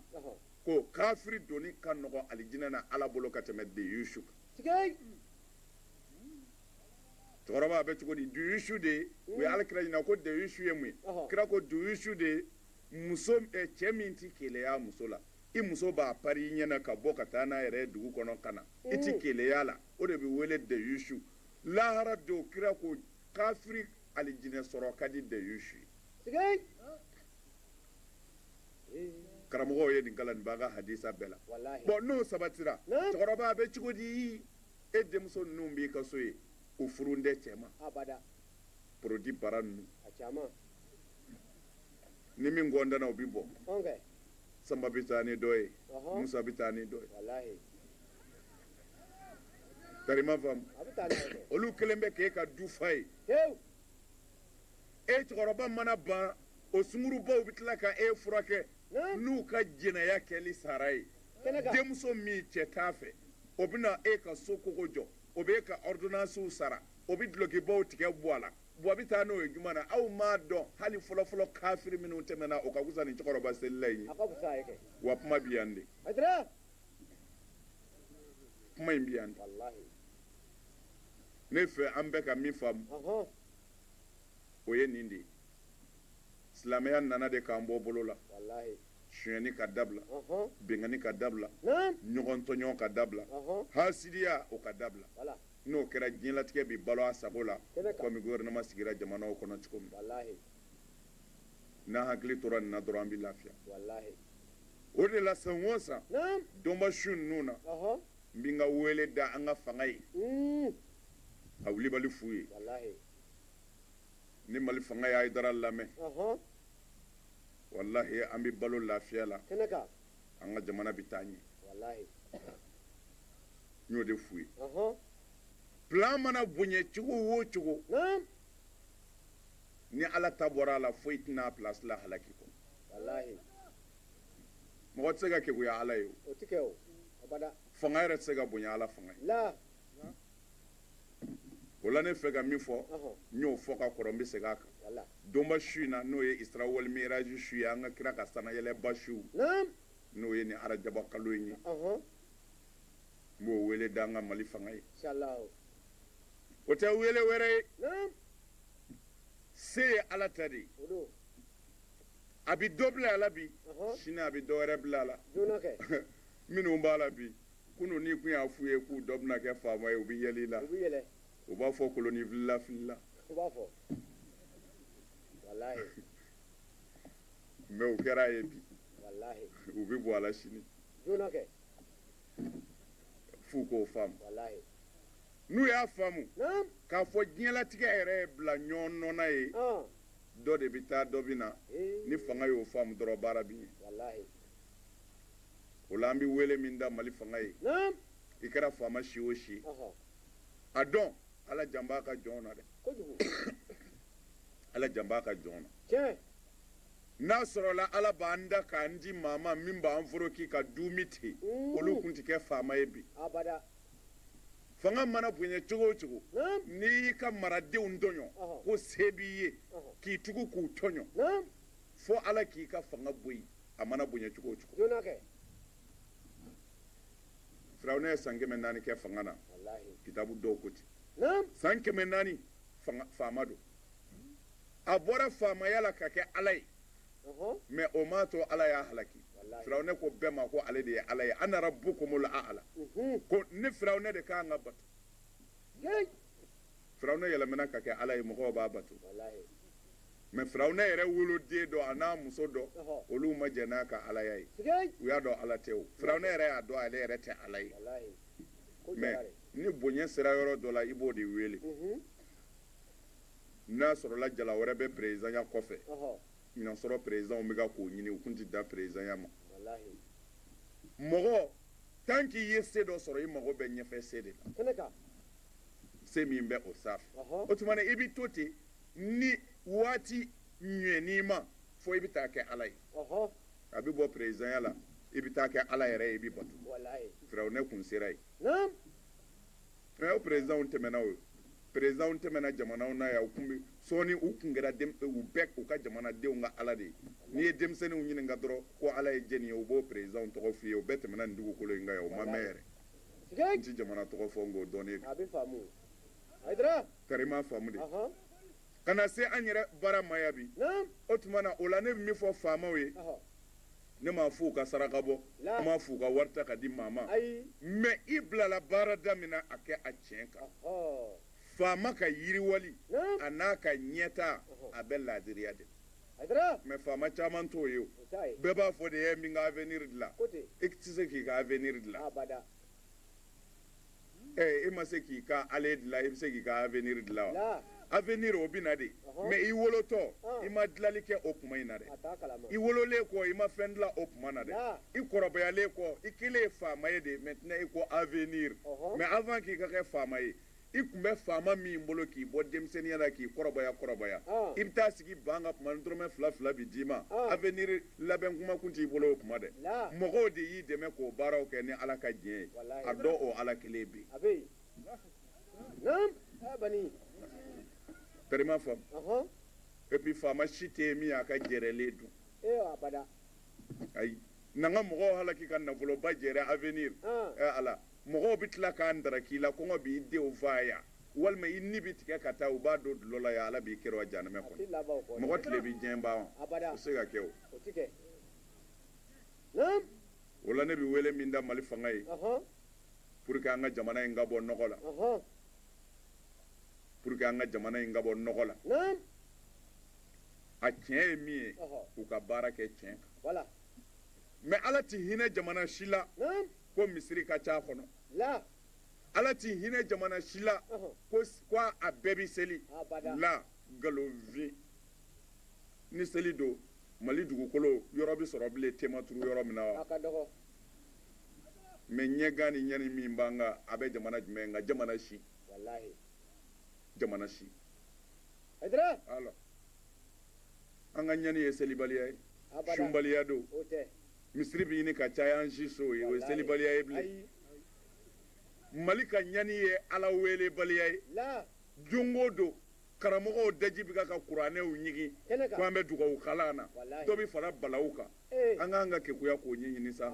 [SPEAKER 1] ko kafiri donni ka nɔgɔ alijinɛ na ala bolo ka tɛmɛ deyusu kan cɛkɔrɔba a bɛ cogo di duyusu de ye hmm. u ye ala kira ɲininka ko deyusu ye mun ye kira ko duyusu de ye muso eh, cɛ min ti keleya muso la i muso b'a pari i ɲɛna ka bɔ ka taa n'a yɛrɛ ye dugu kɔnɔ ka na i tɛ keleya la o de bɛ wele dayusu lahara don kira ko kafiri alijinɛ sɔrɔ ka di dayusu ye karamɔgɔw ye nin kalan nin b'an ka hadisa bɛɛ la bon n'o sabatira cɛkɔrɔba
[SPEAKER 2] bɛ cogo
[SPEAKER 1] di e denmuso ninnu b'i ka so ye u furulen tɛ cɛ ma produit bara ninnu ni min gɔntanna u bɛ bɔ
[SPEAKER 2] sanba bɛ
[SPEAKER 1] taa ni dɔ ye musa bɛ taa
[SPEAKER 2] ni
[SPEAKER 1] dɔ ye karima faamu olu
[SPEAKER 2] kelen bɛ k'e ka
[SPEAKER 1] du fa ye e cɛkɔrɔba mana bana o sungurubaw bɛ tila ka e furakɛ n'u
[SPEAKER 2] ka
[SPEAKER 1] jɛnɛya kɛli sara ye
[SPEAKER 2] denmuso min cɛ t'a
[SPEAKER 1] fɛ o bɛna e ka so kogo jɔ o bɛ e ka ordonnancew sara o bɛ dulokibaw tigɛ bɔ a la wa a bɛ taa n'o ye juma na aw m'a dɔn hali fɔlɔfɔlɔ kafiri minnu tɛmɛna o ka fusa ni cɛkɔrɔba selila ye
[SPEAKER 2] wa kuma bi yan de
[SPEAKER 1] kuma in bi yan de ne fɛ an bɛ ka min faamu o ye nin de ye silamɛya nana de k'an bɔ bolo la sonyani
[SPEAKER 2] ka dabila
[SPEAKER 1] bɛnkanni ka
[SPEAKER 2] dabila
[SPEAKER 1] ɲɔgɔn
[SPEAKER 2] tɔɲɔ ka
[SPEAKER 1] dabila hasidiya
[SPEAKER 2] o ka
[SPEAKER 1] dabila n'o
[SPEAKER 2] kɛra
[SPEAKER 1] diɲɛlatigɛ bɛ balo a sago la komi
[SPEAKER 2] gouvernement sigira
[SPEAKER 1] jamanaw kɔnɔ cogo min n'an hakili tora nin na dɔrɔn an bɛ lafiya
[SPEAKER 2] o de
[SPEAKER 1] la san o san dɔnba su
[SPEAKER 2] ninnu
[SPEAKER 1] na n bɛ n
[SPEAKER 2] ka
[SPEAKER 1] wele da an ka fanga ye hmm. k'a wulibali f'u ye ni Mali fanga ye Hayidara lamɛn walahi an bɛ balo lafiya la. an
[SPEAKER 2] ka jamana
[SPEAKER 1] bɛ taa ɲɛ n y'o de f'u ye
[SPEAKER 2] plan
[SPEAKER 1] mana bonya cogo o cogo ni ala ta bɔra a la foyi tɛna a place la halaki kɔ mɔgɔ tɛ se ka keguya ala ye o
[SPEAKER 2] fanga yɛrɛ tɛ se ka
[SPEAKER 1] bonya ala fanga ye o la ne fɛ ka min fɔ n y'o fɔ
[SPEAKER 2] ka kɔrɔ n
[SPEAKER 1] bɛ segin a kan donba su
[SPEAKER 2] in na
[SPEAKER 1] n'o ye isra wal miraji su ye an ka kira ka sanayɛlɛba su n'o
[SPEAKER 2] ye nin
[SPEAKER 1] arajaba kalo in ye n b'o wele da an ka mali fanga ye o tɛ wele wɛrɛ ye se ye ala ta de ye a bɛ dɔ bila a la bi sini a bɛ dɔ
[SPEAKER 2] wɛrɛ bila
[SPEAKER 1] a la
[SPEAKER 2] minnu b'a la
[SPEAKER 1] bi kunun n'i kun y'a f'u ye k'u dɔ bɛna kɛ faama ye u bɛ yɛlɛ i la u
[SPEAKER 2] b'a fɔ
[SPEAKER 1] koloni filila filila mɛ u kɛra a ye bi u
[SPEAKER 2] bɛ bɔ a la
[SPEAKER 1] sini f'u k'o
[SPEAKER 2] faamu n'u
[SPEAKER 1] y'a faamu k'a
[SPEAKER 2] fɔ
[SPEAKER 1] diɲɛlatigɛ yɛrɛ ye bila ɲɔgɔn nɔ na ye dɔ
[SPEAKER 2] de bɛ taa
[SPEAKER 1] dɔ bɛ na ni fanga y'o faamu dɔrɔn baara bɛ ɲɛ o la an bɛ wele min da mali fanga ye i
[SPEAKER 2] kɛra
[SPEAKER 1] faama si o
[SPEAKER 2] si a
[SPEAKER 1] dɔn ala jan b'a ka jɔn na dɛ ala jan b'a ka jɔn na
[SPEAKER 2] n'a
[SPEAKER 1] sɔrɔla ala b'an da k'an di maa ma min b'an foroki ka dumuni ten olu kun tɛ kɛ faama ye bi fanga mana bonya cogo o cogo n'i y'i ka maradenw tɔɲɔ ko se b'i
[SPEAKER 2] ye
[SPEAKER 1] k'i tugu k'u
[SPEAKER 2] tɔɲɔ
[SPEAKER 1] fo
[SPEAKER 2] ala k'i
[SPEAKER 1] ka fanga bɔ yen a mana bonya cogo o cogo joona kɛ firawuna ye san kɛmɛ naani kɛ fanga na walahi kitabu dɔw
[SPEAKER 2] ko ten
[SPEAKER 1] naam san kɛmɛ
[SPEAKER 2] naani
[SPEAKER 1] fanga- faama don a bɔra faamaya la ka kɛ ala ye ɔhɔn
[SPEAKER 2] mɛ o m'a
[SPEAKER 1] to ala y'a halaki Walahi. firawuna
[SPEAKER 2] ko bɛɛ ma ko
[SPEAKER 1] ale de ye ala ye ana rabbukumul a'la Mhm. ko ne firawuna de ka kan ka bato firawuna yɛlɛmana ka kɛ ala ye mɔgɔw b'a
[SPEAKER 2] bato
[SPEAKER 1] mɛ firawuna yɛrɛ woloden dɔ an'a muso dɔ olu ma jɛn n'a
[SPEAKER 2] ka
[SPEAKER 1] alaya ye u y'a dɔn ala
[SPEAKER 2] tɛ o
[SPEAKER 1] firawuna yɛrɛ y'a dɔn ale yɛrɛ tɛ ala
[SPEAKER 2] ye mɛ
[SPEAKER 1] ni
[SPEAKER 2] bonya
[SPEAKER 1] sera yɔrɔ dɔ la i b'o de wele n'a sɔrɔla jala wɛrɛ bɛ perezidanya kɔfɛ i n'a
[SPEAKER 2] sɔrɔ
[SPEAKER 1] perezidanw bɛ kan k'o ɲini u kun tɛ dan perezidanya
[SPEAKER 2] ma
[SPEAKER 1] mɔgɔ tan k'i ye se dɔ sɔrɔ i mago bɛ ɲɛfɛ se de la
[SPEAKER 2] se
[SPEAKER 1] min bɛ o sanfɛ o tuma na i bɛ to ten ni waati ɲɛn'i ma fo i bɛ taa kɛ ala ye a
[SPEAKER 2] bɛ bɔ
[SPEAKER 1] perezidanya la i bɛ taa kɛ ala yɛrɛ ye i bɛ bato firawuna
[SPEAKER 2] kun sera yen
[SPEAKER 1] Mɛ o perezidanw tɛmɛna o perezidanw tɛmɛna jamanaw na yan u kun bɛ sɔɔni u kun kɛra u bɛɛ u ka jamanadenw ka ala de ye n'i ye denmisɛnninw ɲininka dɔrɔn ko ala ye jɛni ye u b'o perezidanw tɔgɔ f'i ye o bɛɛ tɛmɛna nin dugukolo in kan yan o ma mɛn yɛrɛ n tɛ
[SPEAKER 2] jamana tɔgɔ fɔ
[SPEAKER 1] nk'o
[SPEAKER 2] dɔnnen don kari m'a faamu
[SPEAKER 1] de
[SPEAKER 2] ka na
[SPEAKER 1] se an yɛrɛ baara ma yan bi o tuma na
[SPEAKER 2] o la
[SPEAKER 1] ne bɛ min fɔ faamaw
[SPEAKER 2] ye ne
[SPEAKER 1] m'a f'u ka saraka bɔ n m'a f'u ka wari
[SPEAKER 2] ta ka
[SPEAKER 1] di maa ma mais i bilala baara da min
[SPEAKER 2] na
[SPEAKER 1] a kɛ a tiɲɛ kan faama ka yiriwali a n'a ka ɲɛtaa a bɛ laadiriya de
[SPEAKER 2] mais faama
[SPEAKER 1] caman t'o ye o bɛɛ b'a fɔ de
[SPEAKER 2] ye n bɛ n ka
[SPEAKER 1] avenir dilan i tɛ se
[SPEAKER 2] k'i ka
[SPEAKER 1] avenir dilan e ma se k'i ka aller dilan i bɛ se k'i ka avenir dilan wa avenir
[SPEAKER 2] o bɛ na
[SPEAKER 1] de mais i wolotɔ i ma dilanli kɛ o kuma in na dɛ i
[SPEAKER 2] wololen kɔ i
[SPEAKER 1] ma fɛn dilan o kuma na dɛ i
[SPEAKER 2] kɔrɔbayalen
[SPEAKER 1] kɔ i kɛlen faama ye de maintenant i ko avenir mais avant k'i ka kɛ faama ye i tun bɛ faama min bolo k'i bɔ denmisɛnniya la k'i kɔrɔbaya kɔrɔbaya i bɛ taa sigi banc kan kuma dɔrɔmɛ fila fila bɛ d'i ma avenir labɛn kuma kun t'i bolo o kuma dɛ mɔgɔw de y'i
[SPEAKER 2] dɛmɛ
[SPEAKER 1] k'o baaraw kɛ ni Ala ka jɛn ye a dɔ o Ala kelen
[SPEAKER 2] bɛ
[SPEAKER 1] yen tari i m'a faamu et puis faama si tɛ yen min y'a ka jɛrɛlen dun. ayi n'an ka mɔgɔw halaki ka nafoloba jɛrɛ avenir ɛ ala mɔgɔw bɛ tila k'a ndaraki i la kɔngɔ b'i denw faa yan walima i ni bɛ tigɛ ka taa u b'a don dulɔ la yan ala b'i kɛrɛ wa jahanamɛ kɔnɔ mɔgɔ tile bɛ diɲɛ ban wa o tɛ se ka kɛ
[SPEAKER 2] o
[SPEAKER 1] o la ne bɛ wele min da mali fanga ye pour que an ka jamana in ka bɔ nɔgɔ la pour que an ka jamana in ka bɔ nɔgɔ la a tiɲɛ ye min ye u ka baara kɛ tiɲɛ
[SPEAKER 2] kan
[SPEAKER 1] mais ala tɛ hinɛ jamana si la ko
[SPEAKER 2] misiri ka
[SPEAKER 1] ca a kɔnɔ
[SPEAKER 2] ala tɛ
[SPEAKER 1] hinɛ jamana si la ko a bɛɛ bɛ seli la nkalonfin ni seli don mali dugukolo yɔrɔ bɛ sɔrɔ bilen ten ma turu yɔrɔ min na wa mais ɲɛgan ni ɲani min b'an kan a bɛ jamana jumɛn kan jamana si jamana si an ka ɲani ye selibaliya ye sunbaliya don
[SPEAKER 2] misiri bɛ ɲini
[SPEAKER 1] ka caya an siso ye o ye selibaliya ye bilen mali ka ɲani ye ala weelebaliya ye don
[SPEAKER 2] o don
[SPEAKER 1] karamɔgɔw daji bɛ ka kuranɛw ɲigin ko an bɛ
[SPEAKER 2] dugawu
[SPEAKER 1] kalan na dɔ bɛ fara
[SPEAKER 2] balawu
[SPEAKER 1] kan an ka kan ka kekuya k'o ɲɛɲini sa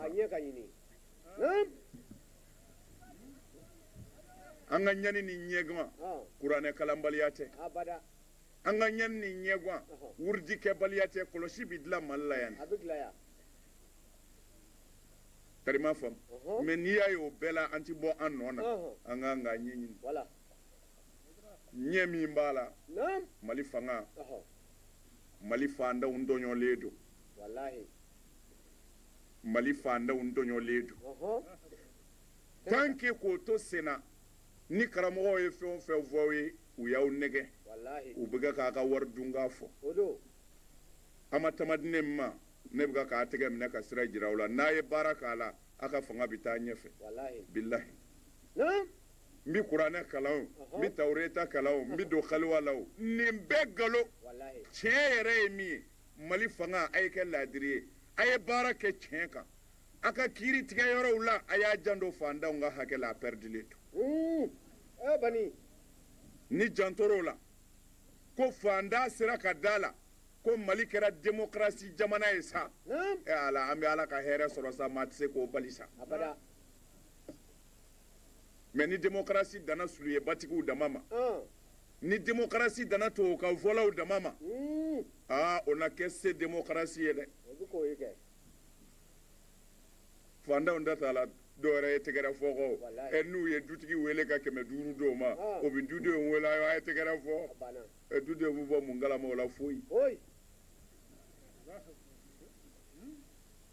[SPEAKER 1] an ka ɲani ni ɲɛgan kuranɛ kalanbaliya tɛ
[SPEAKER 2] An ka ɲani
[SPEAKER 1] ni ɲɛguwan, wurudi kɛbaliya tɛ, kɔlɔsi bɛ dilan Mali la yan de. Tari i m'a faamu. Mais n'i y'a ye o bɛɛ la an tɛ bɔ an nɔ na, an ka kan k'a ɲɛɲini. Ɲɛ min b'a la, Mali fanga, Mali faantanw ntɔɲɔlen don. Mali faantanw ntɔɲɔlen don. Tant que k'o to senna, ni karamɔgɔw ye fɛn o fɛn fɔ aw ye u y'aw nɛgɛ u bɛ
[SPEAKER 2] ka k'a ka
[SPEAKER 1] wari dun k'a
[SPEAKER 2] fɔ a
[SPEAKER 1] ma tama di ne ma ne bɛ k'a tɛgɛ minɛ ka sira jira aw la n'a ye baara k'a la a ka fanga bɛ taa ɲɛfɛ bilahi
[SPEAKER 2] n
[SPEAKER 1] bɛ kuranɛ kalan n bɛ tawureta kalan n bɛ don kaliwa la nin bɛɛ nkalon tiɲɛ
[SPEAKER 2] yɛrɛ ye min
[SPEAKER 1] ye mali fanga a ye kɛ laadiri ye a ye baara kɛ tiɲɛ kan a ka kiiri tigɛ yɔrɔw la a y'a janto faantanw ka hakɛ la a pɛridilen to hmm. eh,
[SPEAKER 2] bani
[SPEAKER 1] ni jantor'o la ko faantan sera ka d'a la ko mali kɛra demokarasi jamana ye sa hmm. eh, ala an bɛ
[SPEAKER 2] ala
[SPEAKER 1] ka hɛrɛ sɔrɔ sa maa tɛ se k'o bali sa mɛ ni demokarasi danna suluyebatigiw dama ma hmm. ni demokarasi danna tubabukan fɔlaw dama ma aa o na kɛ se demokarasi ye dɛ fantanw da t'a la dɔwɛrɛ ye tɛgɛrɛ fɔ kɔ Walayi. ɛ n'u ye
[SPEAKER 2] dutigi
[SPEAKER 1] wele ka kɛmɛ duuru d'o ma Ah. o bɛ dudenw wele a ye tɛgɛrɛ fɔ banna ɛ dudenw
[SPEAKER 2] bɛ bɔ mun
[SPEAKER 1] kalama o la foyi oyi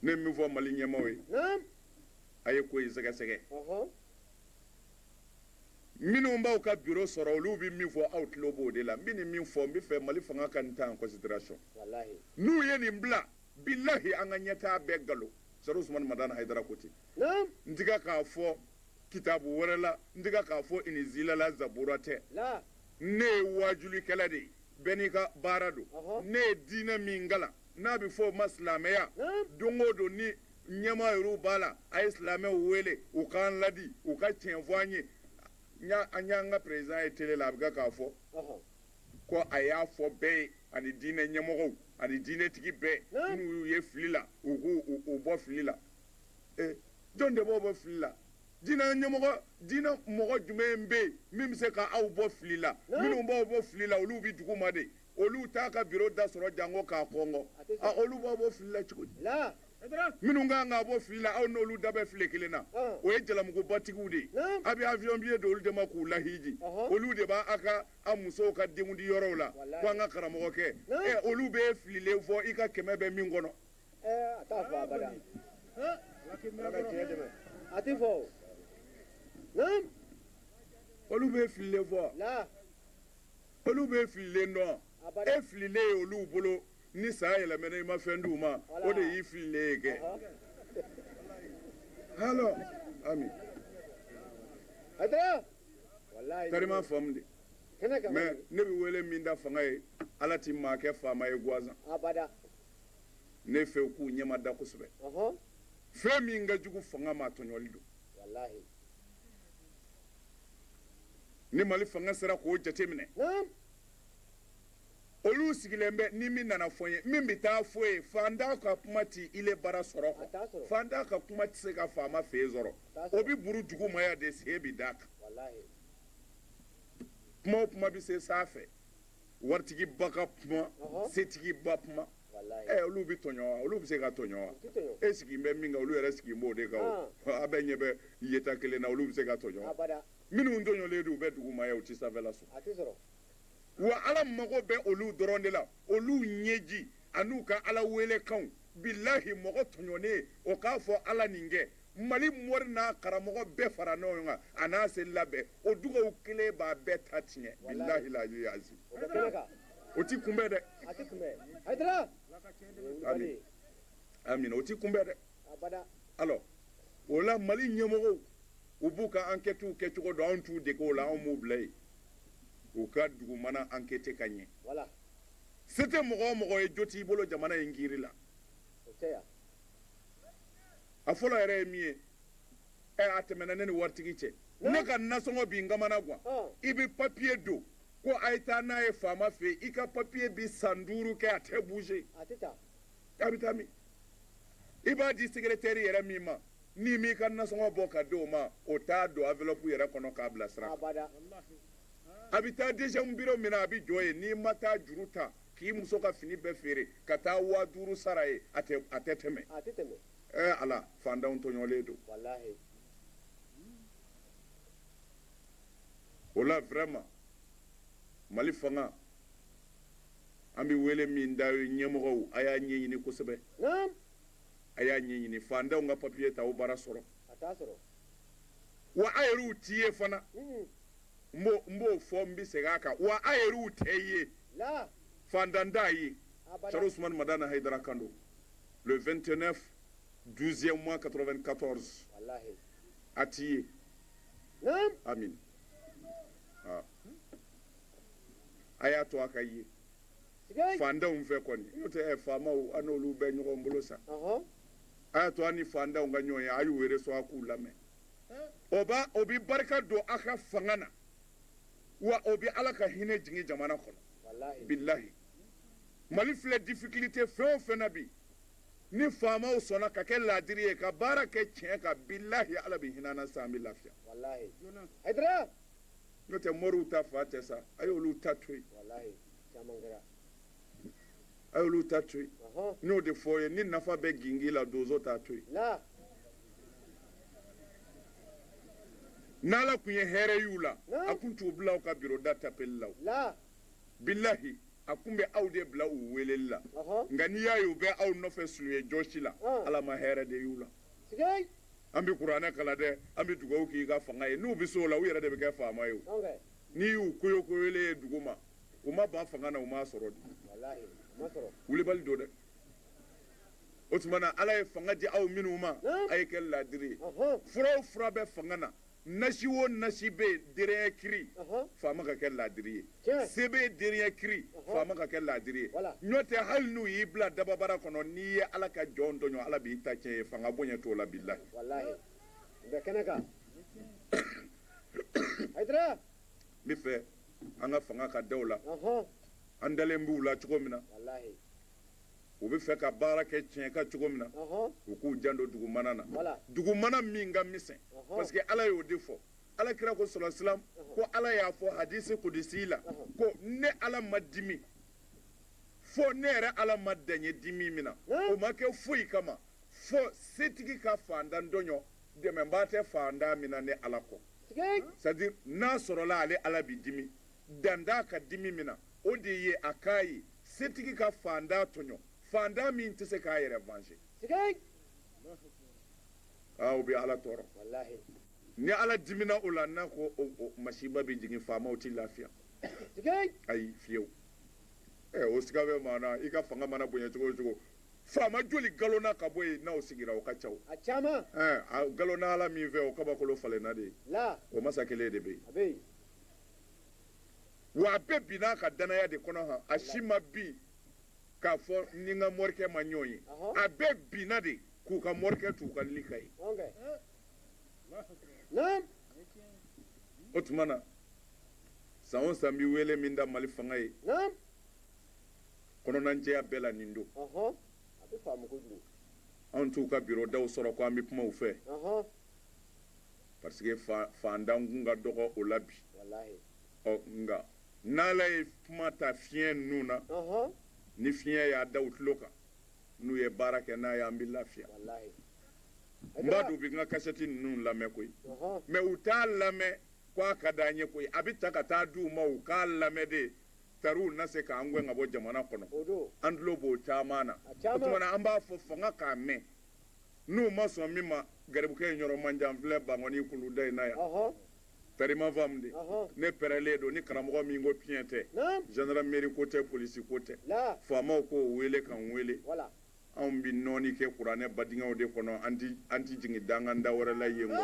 [SPEAKER 1] ne ye min fɔ mali ɲɛmaaw ye
[SPEAKER 2] naam a ye
[SPEAKER 1] ko in sɛgɛsɛgɛ ɔhɔn minnu b'aw ka biro sɔrɔ olu bɛ min fɔ aw tulo b'o de la n bɛ nin min fɔ n b'a fɛ mali fanga ka nin ta en considération walahi n'u
[SPEAKER 2] ye nin bila
[SPEAKER 1] bilahi an ka ɲɛtaa bɛɛ nkalon sɛrifu usumani madani hayidara ko ten n tɛ ka
[SPEAKER 2] k'a
[SPEAKER 1] fɔ kitabu wɛrɛ la n tɛ ka k'a fɔ inizila la zabura tɛ ne
[SPEAKER 2] ye
[SPEAKER 1] waajulikɛla de ye bɛɛ n'i ka baara don ne ye diinɛ min kalan n'a bɛ fɔ o ma silamɛya don o don ni ɲɛmaa yɛrɛw b'a la a ye silamɛw wele u k'an laadi u ka tiɲɛ fɔ an ye an y'an ka perezan ye tele la a bɛ ka k'a fɔ ko a y'a fɔ bɛɛ ye ani diinɛ ɲɛmɔgɔw ani diinɛtigi bɛɛ n'u y'u ye fili la u k'u bɔ fili la ee jɔn de b'aw bɔ fili la diinɛ ɲɛmɔgɔ diinɛ mɔgɔ jumɛn bɛ yen min bɛ se ka aw bɔ fili la minnu b'aw bɔ fili la olu bɛ duguma de olu t'a ka biro da sɔrɔ janko k'a kɔnkɔn a olu b'aw bɔ fili la cogo di minnu kan k'a bɔ fili la aw n'olu da bɛ filen kelen na o ye jalamugubatigiw de ye a bɛ avion billet don olu de ma k'u lahiji olu de b'a a ka a musow ka denkundi yɔrɔw la ko an ka karamɔgɔkɛ ɛ olu bɛ fililen fɔ i ka kɛmɛ bɛ min kɔnɔ a t'a
[SPEAKER 2] fɔ abada a tɛ fɔ o
[SPEAKER 1] olu bɛ fililen fɔ olu bɛ fililen dɔn e fililen ye olu bolo ni san yɛlɛmɛna i ma fɛn di u ma o de y'i fililen ye kɛ halo ami. karima faamu dɛ mais ne bɛ wele min da fanga ye ala tɛ maa kɛ faama ye gansan ne fɛ u k'u ɲɛmada kosɛbɛ fɛn min ka jugu fanga ma tɔɲɔli don ni mali fanga sera k'o jate minɛ olu sigilen bɛ ni min nana fɔ ye min bɛ taa fɔ ye fantan ka kuma tɛ ile bara sɔrɔ kɔ fantan ka kuma tɛ se ka faama fɛ yen sɔrɔ o bɛ burun duguma yan de sen bɛ d'a kan kuma o kuma bɛ se sanfɛ waritigiba ka kuma setigiba kuma ɛ olu bɛ tɔɲɔ wa olu bɛ se ka tɔɲɔ wa e sigi bɛ min kan olu yɛrɛ sigi b'o de kan a bɛɛ ɲɛ bɛ yeta kelen na olu bɛ se ka tɔɲɔ wa minnu tɔɲɔlen don u bɛ duguma yen u tɛ sanfɛla sɔrɔ wa ala mago bɛ olu dɔrɔn de la olu ɲɛji an'u ka ala welekanw bilahi mɔgɔ tɔɲɔnen o k'a fɔ ala nin kɛ mali mori n'a karamɔgɔ bɛɛ fara ɲɔgɔn kan a n'a se labɛn o dugawu kelen b'a bɛɛ ta tiɲɛ bilahi la yazi o ti kunbɛn dɛ amiina o ti kunbɛn dɛ alors o la mali ɲɛmɔgɔw u b'u ka ankɛtiw kɛ cogo dɔn anw t'u dege o la anw b'u bila yen u ka dugumana ankɛti ka ɲɛ se tɛ mɔgɔ o mɔgɔ ye jo t'i bolo jamana in kiri la a fɔlɔ yɛrɛ ye min ye ɛ a tɛmɛna ne ni waritigi cɛ ne ka nasɔngɔ bi n kamana gan i bɛ papiye don ko a ye taa n'a ye faama fɛ i ka papiye bi san duuru kɛ a tɛ bouger k'a bɛ taa min i b'a di sekeretɛri yɛrɛ min ma n'i m'i ka nasɔngɔ bɔ ka di o ma o t'a don enveloppe yɛrɛ kɔnɔ k'a bila sira a bɛ taa deuxième bureau min na a bɛ jɔ yen n'i ma taa juru ta k'i muso ka fini bɛɛ feere ka taa waa duuru sara yen a tɛ a tɛ tɛmɛ ɛɛ ala fantanw tɔɲɔlen don o la vraiment mali fanga An bɛ wele min da aw ye ɲɛmɔgɔw a y'a ɲɛɲini kosɛbɛ a y'a ɲɛɲini fantanw ka papiye t'aw bara sɔrɔ wa a yɛrɛw tɛ ye fana n n b'o fɔ n bɛ segin a kan wa a yɛrɛw tɛ ye fantan t'a ye usumani madani hayidara kan don le vingt-neuf douzième mois quatre-vingt-quatorze a t'i ye a a y'a to a ka ye fantanw fɛ kɔni n'o tɛ faamaw a n'olu bɛ ɲɔgɔn bolo sa a y'a to a ni fantanw ka ɲɔgɔn ye a y'u wele so a k'u lamɛn o b'a o bɛ barika don a ka fanga na wa o bɛ ala ka hinɛ jigin jamana kɔnɔ bilahi mali filɛ difikilite fɛn o fɛn na bi ni faamaw sɔnna ka kɛ laadiri ye ka baara kɛ tiɲɛ kan bilahi ala bɛ hinɛ an na sa an bɛ lafiya n'o tɛ moriw ta fa tɛ sa a y'olu ta to yen a y'olu ta to yen n'o de fɔ ye ni nafa bɛ gingin la donso t'a to yen n'ala tun ye hɛrɛ y'u la a tun t'u bila aw ka biro da tapeli la bilahi a tun bɛ aw de bila u weleli la nka n'i y'a ye u bɛ aw nɔfɛ suliye jɔsi la ala ma hɛrɛ de y'u la an bɛ kuranɛ kalan dɛ an bɛ dugawu k'i ka fanga ye n'u bɛ se o la u yɛrɛ de bɛ kɛ faama ye n'i y'u koyo koyolen ye dugu ma u ma ban fanga na u m'a sɔrɔ de wulibali don dɛ o tuma na ala ye fanga di aw minnu ma a ye kɛ laadiri ye fura o fura bɛ fanga na Nasi o nasi bɛ yen dernier cri faama ka kɛ laadiri ye sɛbɛn dernier cri faama ka kɛ laadiri ye n'o tɛ hali n'u y'i bila dababara kɔnɔ n'i ye ala ka jɔn tɔɲɔ ala b'i ta tiɲɛ ye fanga bonya t'o la bilahi n bɛ fɛ an ka fanga ka da o la an dalen b'u la cogo min na u bɛ fɛ ka baara kɛ tiɲɛ kan cogo min na u k'u janto dugumana na dugumana min ka misɛn parce que ala y'o de fɔ ala kira ko solasilam ko ala y'a fɔ hadisi kudusi la ko ne ala ma dimi fo ne yɛrɛ ala ma dan ye dimi min na o ma kɛ foyi kama fo setigi ka fantan tɔɲɔ dɛmɛbaa tɛ fantan min na ne ala kɔ c'est-à-dire n'a sɔrɔla ale ala bɛ dimi dan t'a ka dimi min na o de ye a k'a ye setigi ka fantan tɔɲɔ fantan min tɛ se k'a yɛrɛ venger aa o bɛ ala tɔɔrɔ ni ala dimina o la n'a ko masiba bɛ jigin faamaw tɛ lafiya ayi fiyewu o siga bɛ maa na i ka fanga mana bonya cogo o cogo faama joli galonna ka bɔ yen n'aw sigira o ka ca o a caman a galonna ala min fɛ o kabakolo falenna de ye o masa kelen de bɛ yen wa a bɛɛ binna a ka danaya de kɔnɔ han a si ma bin k'a fɔ ni n ka morikɛ ma ɲɔgɔn ye a bɛɛ binna de k'u ka morikɛ t'u ka lili ka ye o tuma na san o san bɛ wele min da mali fanga ye kɔnɔnajɛya bɛɛ la nin don anw t'u ka biro daw sɔrɔ ko an bɛ kuma u fɛ parce que faantan kun ka dɔgɔ o la bi ɔ nka n'ala ye kuma ta fiɲɛ ninnu na ni fiɲɛ y'a da u tulo kan n'u ye baara kɛ n'a ye an bɛ lafiya n b'a dɔn u bɛ n ka kasɛti ninnu lamɛn koyi mais u t'a lamɛn ko a ka d'an ye koyi a bɛ ta ka taa di u ma u k'a lamɛn de tari u na se k'an gɛn ka bɔ jamana kɔnɔ an tulo b'o caman na o tuma na an b'a fɔ fanga k'a mɛn n'u ma sɔn min ma garibukɛ in yɔrɔ man jan filɛ bankɔni kuluda in na yan pɛrima fam de ne pɛrɛlen don ni karamɔgɔ min ko tiɲɛ tɛ zandarameri ko tɛ polisi ko tɛ faamaw k'o wele ka n wele anw bɛ nɔɔni kɛ kuranɛ badingɛw de kɔnɔ an tɛ jigin danganda wɛrɛ la yen kɔ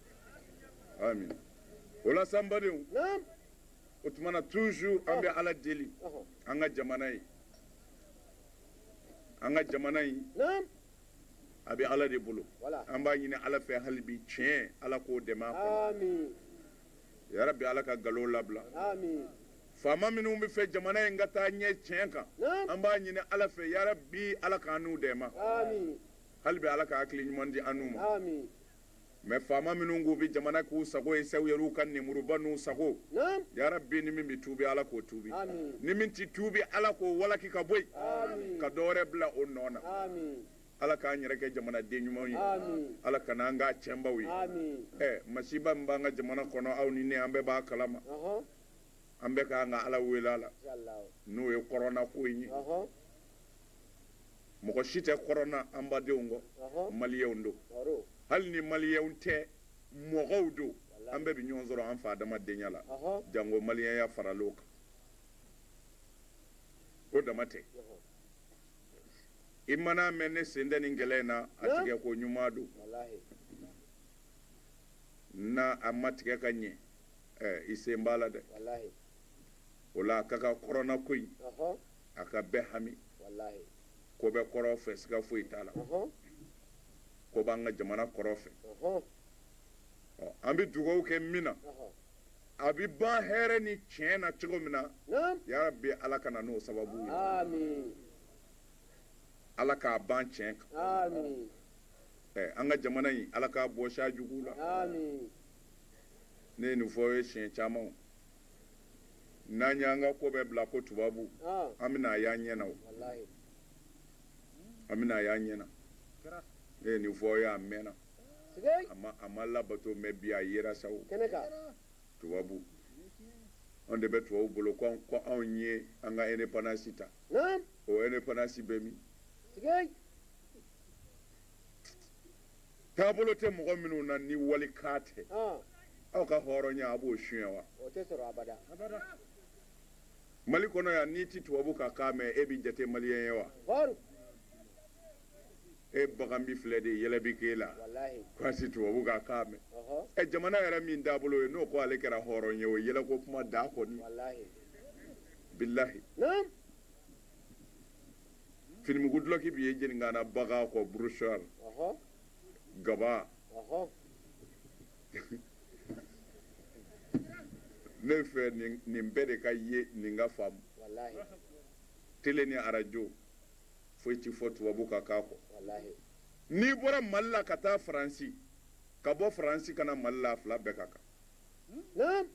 [SPEAKER 1] amin o la sa n badenw o tuma na toujours an bɛ oh. ala deli oh. an ka jamana ye an ka jamana in a bɛ ala de bolo an b'a ɲini ala fɛ hali bi tiɲɛ ala k'o dɛmɛ a kɔnɔ yarabi ala ka nkalon labila faama minnu bɛ fɛ jamana in ka taa ɲɛ tiɲɛ kan an b'a ɲini ala fɛ yarabi ala k'an n'u dɛmɛ hali bi ala ka hakili ɲuman di an n'u ma mais faama minnu k'u bɛ jamana k'u sago ye se u yɛr'u ka nemuruba n'u sago yarabi ni min bɛ tuubi ala k'o tuubi ni min tɛ tuubi ala k'o walaki ka bɔ yen ka dɔ wɛrɛ bila o nɔ na ala k'an yɛrɛ kɛ jamanaden ɲumanw ye ala kana an k'a tiɲɛbaw ye ɛ masiba min b'an ka jamana kɔnɔ aw ni ne an bɛɛ b'a kalama an bɛɛ ka kan ka ala wele a la n'o ye kɔrɔnako in ye mɔgɔ si tɛ kɔrɔna an badenw kɔ maliyɛnw don hali ni maliyɛnw tɛ mɔgɔw don an bɛɛ bɛ ɲɔgɔn sɔrɔ an fa adamadenya la jango maliyɛnya faral'o kan o dama tɛ i man'a mɛn ne sen tɛ nin kɛlɛ in na a tigɛ ko ɲuman don n'a ma tigɛ ka ɲɛ i sen b'a la dɛ o la a ka kan kɔrɔna ko in a ka bɛɛ hami ko bɛ kɔrɔ fɛ siga foyi t'a la ko b'an ka jamana kɔrɔ fɛ an bɛ dugawu kɛ min na a bɛ ban hɛrɛ ni tiɲɛ na cogo min na yarabi ala ka na n'o sababu ye ala k'a ban tiɲɛ kan an ka jamana in ala k'a bɔ sa jugu la ne ye nin fɔ ye siɲɛ caman n'an y'an ka ko bɛɛ bila ko tubabu ah. an bɛna a y'an ɲɛ na o an bɛna a y'an ɲɛ na ne ye nin fɔ aw ye a mɛnna a ma a ma labato mais bi a yera sa o tubabu anw de bɛ tubabu bolo ko anw ko anw ye an ka indépendance ta o indépendance bɛ min taabolo tɛ mɔgɔ minnu na ni walikan tɛ aw ka hɔrɔnya a b'o suɲɛ wa o tɛ sɔrɔ abada abada mali kɔnɔ yan n'i tɛ tubabu ka kan mɛn e bɛ jate maliyɛn ye wa e bagan bi filɛ de yɛlɛ bi k'e la k'i ti tubabu ka kan mɛn ɛ jamana yɛrɛ min taabolo ye n'o ko ale kɛra hɔrɔn ye o yɛlɛko kuma da kɔni bilahi finimugu dulɔki bɛ ye jeninkana baga kɔ burusuwari gaba ne fɛ nin bɛɛ de ka ye nin ka faamu tele ni arajo foyi tɛ fɔ tubabu ka kan kɔ n'i bɔra mali la ka taa faransi ka bɔ faransi ka na mali la a fila bɛɛ ka kan naam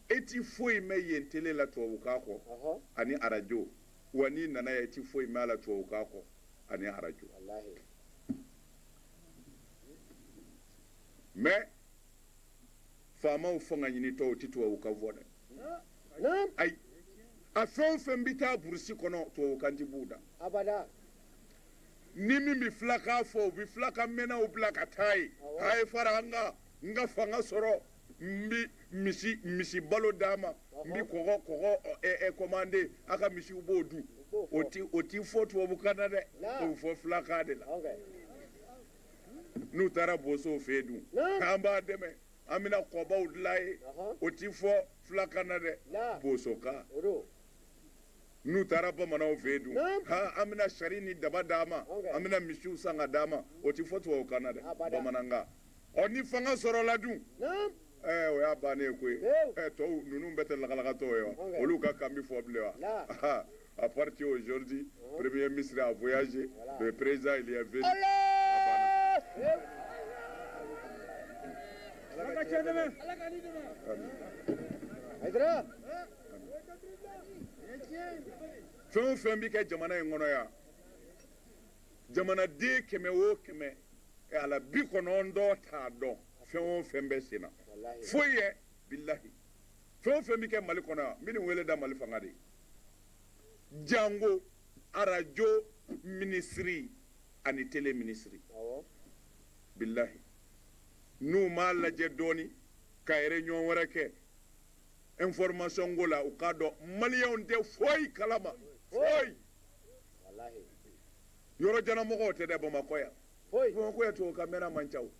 [SPEAKER 1] e ti foyi mɛ yen tele la tubabukan kɔ ɔhɔ ani arajo wa n'i nana yan i ti foyi mɛ a la tubabukan kɔ ani arajo walahi mais faamaw fanga ɲinitɔ u ti tubabukan fɔ dɛ naam ayi a fɛn o fɛn bɛ taa burusi kɔnɔ tubabukan ti b'u da abada ni min bɛ filakan fɔ u bɛ filakan mɛnnaw bila ka taa ye Awɔ. a ye fara an kan n ka fanga sɔrɔ n bɛ misi misi balo d'a ma n bɛ kɔgɔ kɔgɔ kɔmande a ka misiw b'o dun o ti o ti fɔ tubabukan na dɛ o bɛ fɔ filakan de la n'u taara bosow fɛ yen dun k'an b'a dɛmɛ an bɛna kɔbaw dilan ye o ti fɔ filakan na dɛ bosokan n'u taara bamananw fɛ yen dun ha an bɛna sari ni daba d'a ma an bɛna misiw san ka d'a ma o ti fɔ tubabukan na dɛ bamanankan ɔ ni fanga sɔrɔla dun ɛɛ o y'a bannen ye koyi ɛɛ tɔw ninnu bɛɛ tɛ lagalagatɔw ye wa olu ka kan bɛ fɔ bilen wa à partir aujourd'hui premier ministre a voyagé le président il est venu ala ka cɛ dɛmɛ ala ka ni dɛmɛ ayidara fɛn o fɛn bɛ kɛ jamana in kɔnɔ yan jamanaden kɛmɛ o kɛmɛ e a la bi kɔnɔntɔn t'a dɔn fɛn o fɛn bɛ sen na foyi ye bilahi fɛn o fɛn bɛ kɛ mali kɔnɔ yan n bɛ nin wele da mali fanga de ye jango arajo minisiri ani tele minisiri bilahi n'u m'a lajɛ dɔɔni ka réunion wɛrɛ kɛ information ko la u k'a dɔn maliyɛnw tɛ foyi kalama foyi yɔrɔ jan na mɔgɔw tɛ dɛ bamakɔ yan bamakɔ yan tubabukan mɛnna man ca o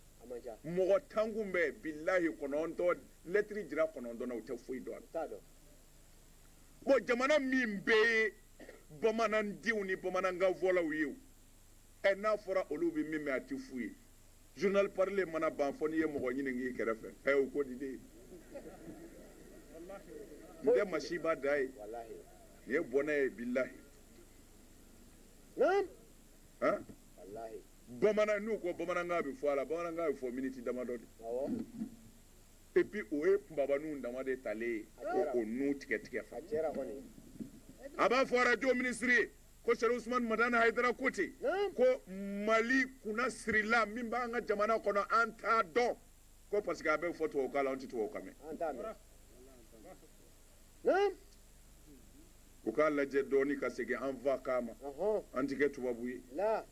[SPEAKER 1] mɔgɔ tan kun bɛ bilahi kɔnɔntɔn lɛtiri jira kɔnɔntɔn na u tɛ foyi dɔn a la bon jamana min bɛɛ ye bamanandenw ni bamanankanfɔlaw ye o ɛ n'a fɔra olu bɛ min mɛn a tɛ f'u ye journal parlé mana ban fo n'i ye mɔgɔ ɲinink'i kɛrɛfɛ ɛ o ko di de n tɛ masiba dan ye nin ye bɔnɛ ye bilahi han bamanan n'u ko bamanankan bɛ fɔ a la bamanankan bɛ fɔ miniti damadɔ de et puis o ye kunbabaninw dama de talen ye ko o nu tigɛ tigɛ fa a b'a fɔ arajo minisiri ye Ko Sɛrifu Usumani Madani Hayidara ko ten, naamu, ko Mali kunna sirila min b'an ka jamana kɔnɔ an t'a dɔn ko parce que a bɛ fɔ tubabukan la an tɛ tubabukan mɛn. an t'a mɛn, naamu, U k'a lajɛ dɔɔni ka segin an fakan ma, ɔhɔn, an tɛ kɛ tubabu ye. la,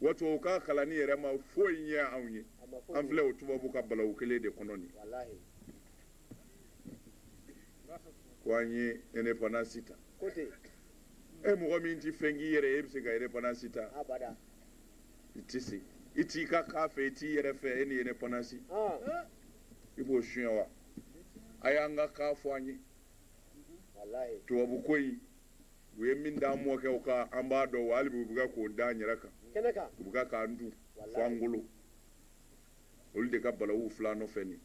[SPEAKER 1] Wa tubabukan kalanni yɛrɛ ma foyi ɲɛ anw ye. a ma foyi An filɛ o tubabu ka balawu kelen de kɔnɔ nin ye. walahi, Ko an ye indépendance ta. ko ten, e mɔgɔ min tɛ fɛn k'i yɛrɛ ye e bɛ se ka indépendance ta abada i tɛ se i t'i ka kan fɛ i t'i yɛrɛ fɛ e ni indépendance ɔn i b'o suɲɛ wa a y'an ka kan fɔ an ye walayi tubabu ko in u ye min d'an mɔkɛw kan an b'a dɔn wa hali bi u bɛ ka k'o da an yɛrɛ kan kɛnɛ kan u bɛ ka k'an dun fo an golo olu de ka balawu fil'an nɔfɛ nin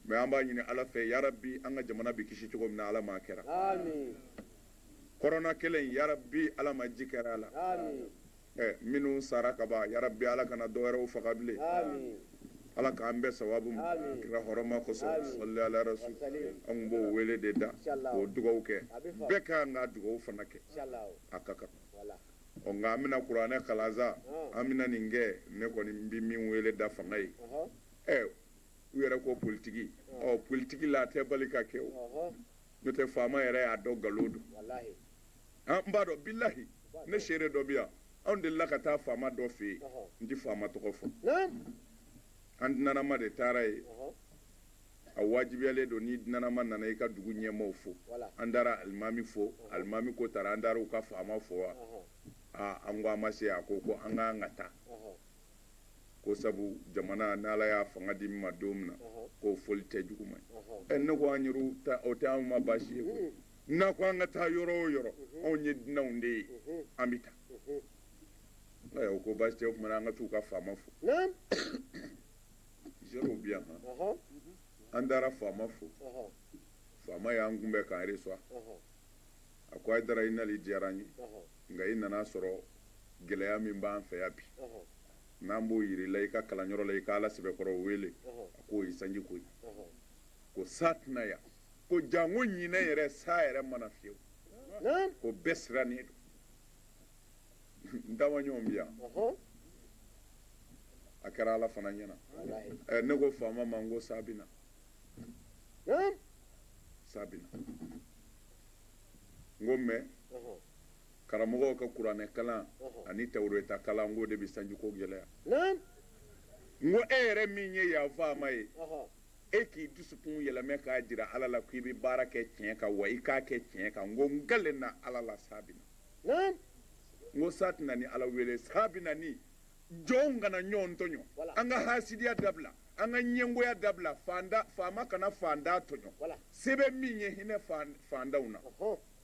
[SPEAKER 1] mais an b'a ɲini ala fɛ yarabi an ka jamana bɛ kisi cogo min na ala m'a kɛra kɔrɔna kelen yarabi ala ma ji kɛra a la minnu sara kaban yarabi ala kana dɔwɛrɛw faga bilen ala k'an bɛɛ sababu kira hɔrɔma kosɔn salli ala rasul an b'o wele de da o dugawu kɛ bɛɛ ka kan ka dugawu fana kɛ a ka kan Ɔ nka an bɛna kuranɛ kalan sa an bɛna nin kɛ ne kɔni bɛ min wele da fanga ye ɛ u yɛrɛ ko politigi ɔ politigi la a tɛ bali ka kɛ o n'o tɛ faama yɛrɛ y'a dɔn nkalon don an n b'a dɔn bilahi ne seere dɔ bi yan anw delila ka taa faama dɔ fɛ yen n tɛ faama tɔgɔ fɔ an dunanama de taara yen A wajibiyalen don n'i dunanama nana i ka dugu ɲɛmɔgɔw fo, voilà an taara alimami fo, alimami ko taara an taara u ka faama fo wa? Ɔnhɔn, aa an ko an ma se, a ko ko an ka kan ka taa, ɔnhɔn, ko sabu jamana ni Ala y'a fanga di min ma don min na, ɔnhɔn, k'o foli tɛ juguman ye, ɔnhɔn, ɛ ne ko an yɛrɛw ta o tɛ anw ma baasi ye koyi, unhun, n'a ko an ka taa yɔrɔ o yɔrɔ, unhun, anw ye dunanw de ye, unhun, an bɛ taa, unhun, ɛ u ko baasi tɛ o tuma na an ka taa u ka faama fo, naamu. seerew bi yan
[SPEAKER 2] han an
[SPEAKER 1] taara faama
[SPEAKER 2] fo faama
[SPEAKER 1] y'an kunbɛn k'an
[SPEAKER 2] reçoit a ko
[SPEAKER 1] Haidara i nali diyara an ye nka i nana
[SPEAKER 2] sɔrɔ
[SPEAKER 1] gɛlɛya min b'an fɛ yan bi
[SPEAKER 2] n'an b'o
[SPEAKER 1] yir'i la i ka kalanyɔrɔ la i ka ala sɛbɛkɔrɔ wele a k'o ye sanji ko ye
[SPEAKER 2] ko
[SPEAKER 1] sa tɛ na yan ko janko ɲinan yɛrɛ sa yɛrɛ ma na fiyewu ko
[SPEAKER 2] bɛɛ sirannen
[SPEAKER 1] don n taamaɲɔgɔn bi yan a kɛra ala fana ɲɛna eh, ne
[SPEAKER 2] ko faama ma
[SPEAKER 1] n ko sa bi na sa bi na n ko mɛ
[SPEAKER 2] karamɔgɔw
[SPEAKER 1] ka kuranɛ kalan ani
[SPEAKER 2] tawureta
[SPEAKER 1] kalan n k'o de bɛ sanjiko
[SPEAKER 2] gɛlɛya
[SPEAKER 1] n ko e yɛrɛ min ye yan faama ye e
[SPEAKER 2] k'i dusukun
[SPEAKER 1] yɛlɛmɛ k'a jira ala la k'i bɛ baara kɛ tiɲɛ kan wa i k'a kɛ tiɲɛ kan n ko n kalen na ala la sa bi na
[SPEAKER 2] n ko
[SPEAKER 1] sa tɛ na ni ala wele sa bɛ na ni jɔnw kana ɲɔgɔn tɔɲɔ an ka
[SPEAKER 2] hasidiya dabila
[SPEAKER 1] an ka ɲɛngoya dabila faama kana faantan tɔɲɔ se bɛ min
[SPEAKER 2] ye hinɛ
[SPEAKER 1] faantanw na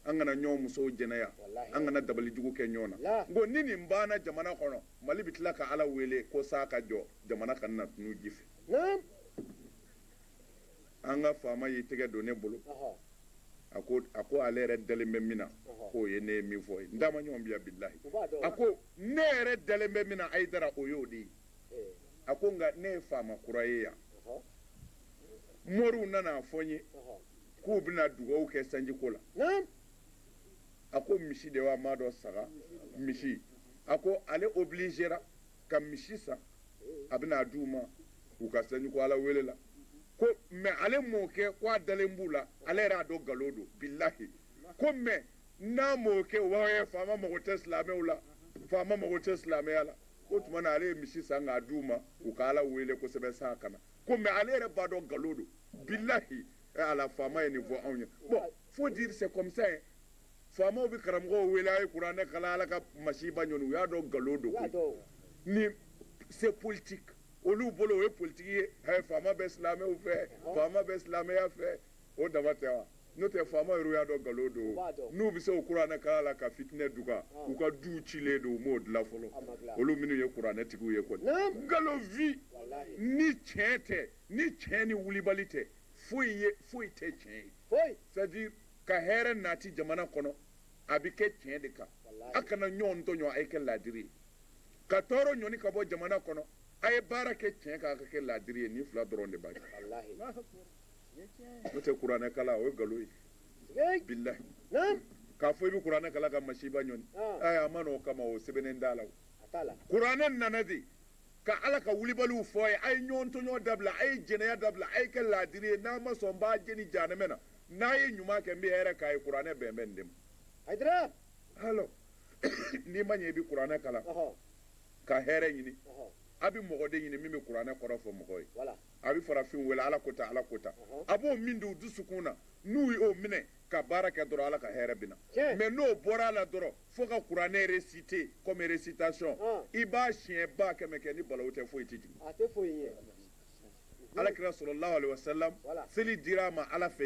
[SPEAKER 1] an kana
[SPEAKER 2] ɲɔgɔn
[SPEAKER 1] musow jɛnɛya an kana
[SPEAKER 2] dabali jugu
[SPEAKER 1] kɛ ɲɔgɔn na n ko ni nin banna jamana kɔnɔ mali bɛ tila ka ala wele ko sa ka jɔ jamana kana na tunun ji fɛ an ka faama y'i tɛgɛ don ne
[SPEAKER 2] bolo a ko
[SPEAKER 1] a ko ale yɛrɛ dalen bɛ min na k'o ye ne ye
[SPEAKER 2] min fɔ ye
[SPEAKER 1] n taamaɲɔgɔn bi yan bilahi a ko
[SPEAKER 2] ne yɛrɛ
[SPEAKER 1] dalen bɛ min na Haidara o y'o de ye a ko
[SPEAKER 2] nka ne
[SPEAKER 1] ye faama kura ye yan moriw nana a fɔ n ye
[SPEAKER 2] k'u bɛna
[SPEAKER 1] dugawu kɛ sanjiko la a ko misi de wa m'a dɔn saga misi a ko ale obilizera ka misi san a bɛna a d'u ma u ka sanjiko ala wele la ko mɛ ale m'o kɛ ko a dalen b'u la ale yɛrɛ a dɔn nkalon don bilahi ko mɛ n'a m'o kɛ u b'a fɔ faama mago tɛ silamɛw la faama mago tɛ silamɛya la k'o tuma na ale ye misi san k'a d'u ma u ka ala wele kosɛbɛ sa ka na ko mɛ ale yɛrɛ b'a dɔn nkalon don bilahi ala faama ye nin fɔ anw ye bon faut dire c'est comme ça Faamaw bɛ karamɔgɔw wele a ye kuranɛ kalan ala ka masiba ɲɔni u y'a dɔn nkalon don ni c'est politique olu bolo o ye politigi ye faama bɛ silamɛw fɛ faama bɛ silamɛya fɛ o dama tɛ wa n'o tɛ faama yɛrɛ y'a dɔn nkalon don n'u bɛ se o kuranɛ kalan la ka fitinɛ duga u ka du cilen don u m'o dilan fɔlɔ olu minnu ye kuranɛtigiw ye kɔni nkalon vi ni
[SPEAKER 2] tiɲɛ tɛ
[SPEAKER 1] ni tiɲɛ ni wulibali tɛ foyi ye foyi tɛ tiɲɛ ye ka hɛrɛ nati jamana kɔnɔ a bɛ kɛ tiɲɛ de kan a kana ɲɔgɔn tɔɲɔ a ye kɛ laadiri ye ka tɔɔrɔ ɲɔni ka bɔ jamana kɔnɔ a ye baara kɛ tiɲɛ kan a ka kɛ laadiri ye nin fila dɔrɔn de b'a kɛ n'o tɛ kuranɛ kalan o ye nkalon ye bilahi
[SPEAKER 2] k'a fɔ i bɛ
[SPEAKER 1] kuranɛ kalan ka masiba ɲɔni a ma n'o kama o sɛbɛnnen t'a la
[SPEAKER 2] kuranɛ nana de
[SPEAKER 1] ka ala ka wulibaliw fɔ a ye a ye ɲɔgɔn tɔɲɔ dabila a ye jɛnɛya dabila a ye kɛ laadiri ye n'a ma sɔn n b'a jeni janɛmɛ na n'a ye ɲuman kɛ n bɛ hɛrɛ k'a ye kuranɛ bɛn bɛ nin de ma
[SPEAKER 2] hayidara
[SPEAKER 1] alors n'i ma ɲɛ i bɛ kuranɛ
[SPEAKER 2] kalan ka hɛrɛ
[SPEAKER 1] ɲini a bɛ mɔgɔ
[SPEAKER 2] de ɲini
[SPEAKER 1] min bɛ kuranɛ kɔrɔ fɔ mɔgɔ ye a bɛ farafin
[SPEAKER 2] wele
[SPEAKER 1] ala ko tan ala ko tan a b'o min don u dusukun na n'u y'o minɛ ka baara kɛ dɔrɔn ala ka hɛrɛ bɛ na mais n'o
[SPEAKER 2] bɔra a
[SPEAKER 1] la dɔrɔn fo ka kuranɛ réciter comme récitation i b'a siɲɛ ba kɛmɛ kɛ ni balawu tɛ foyi tɛ jigin alakira sɔrɔ lawale seli dira a ma ala fɛ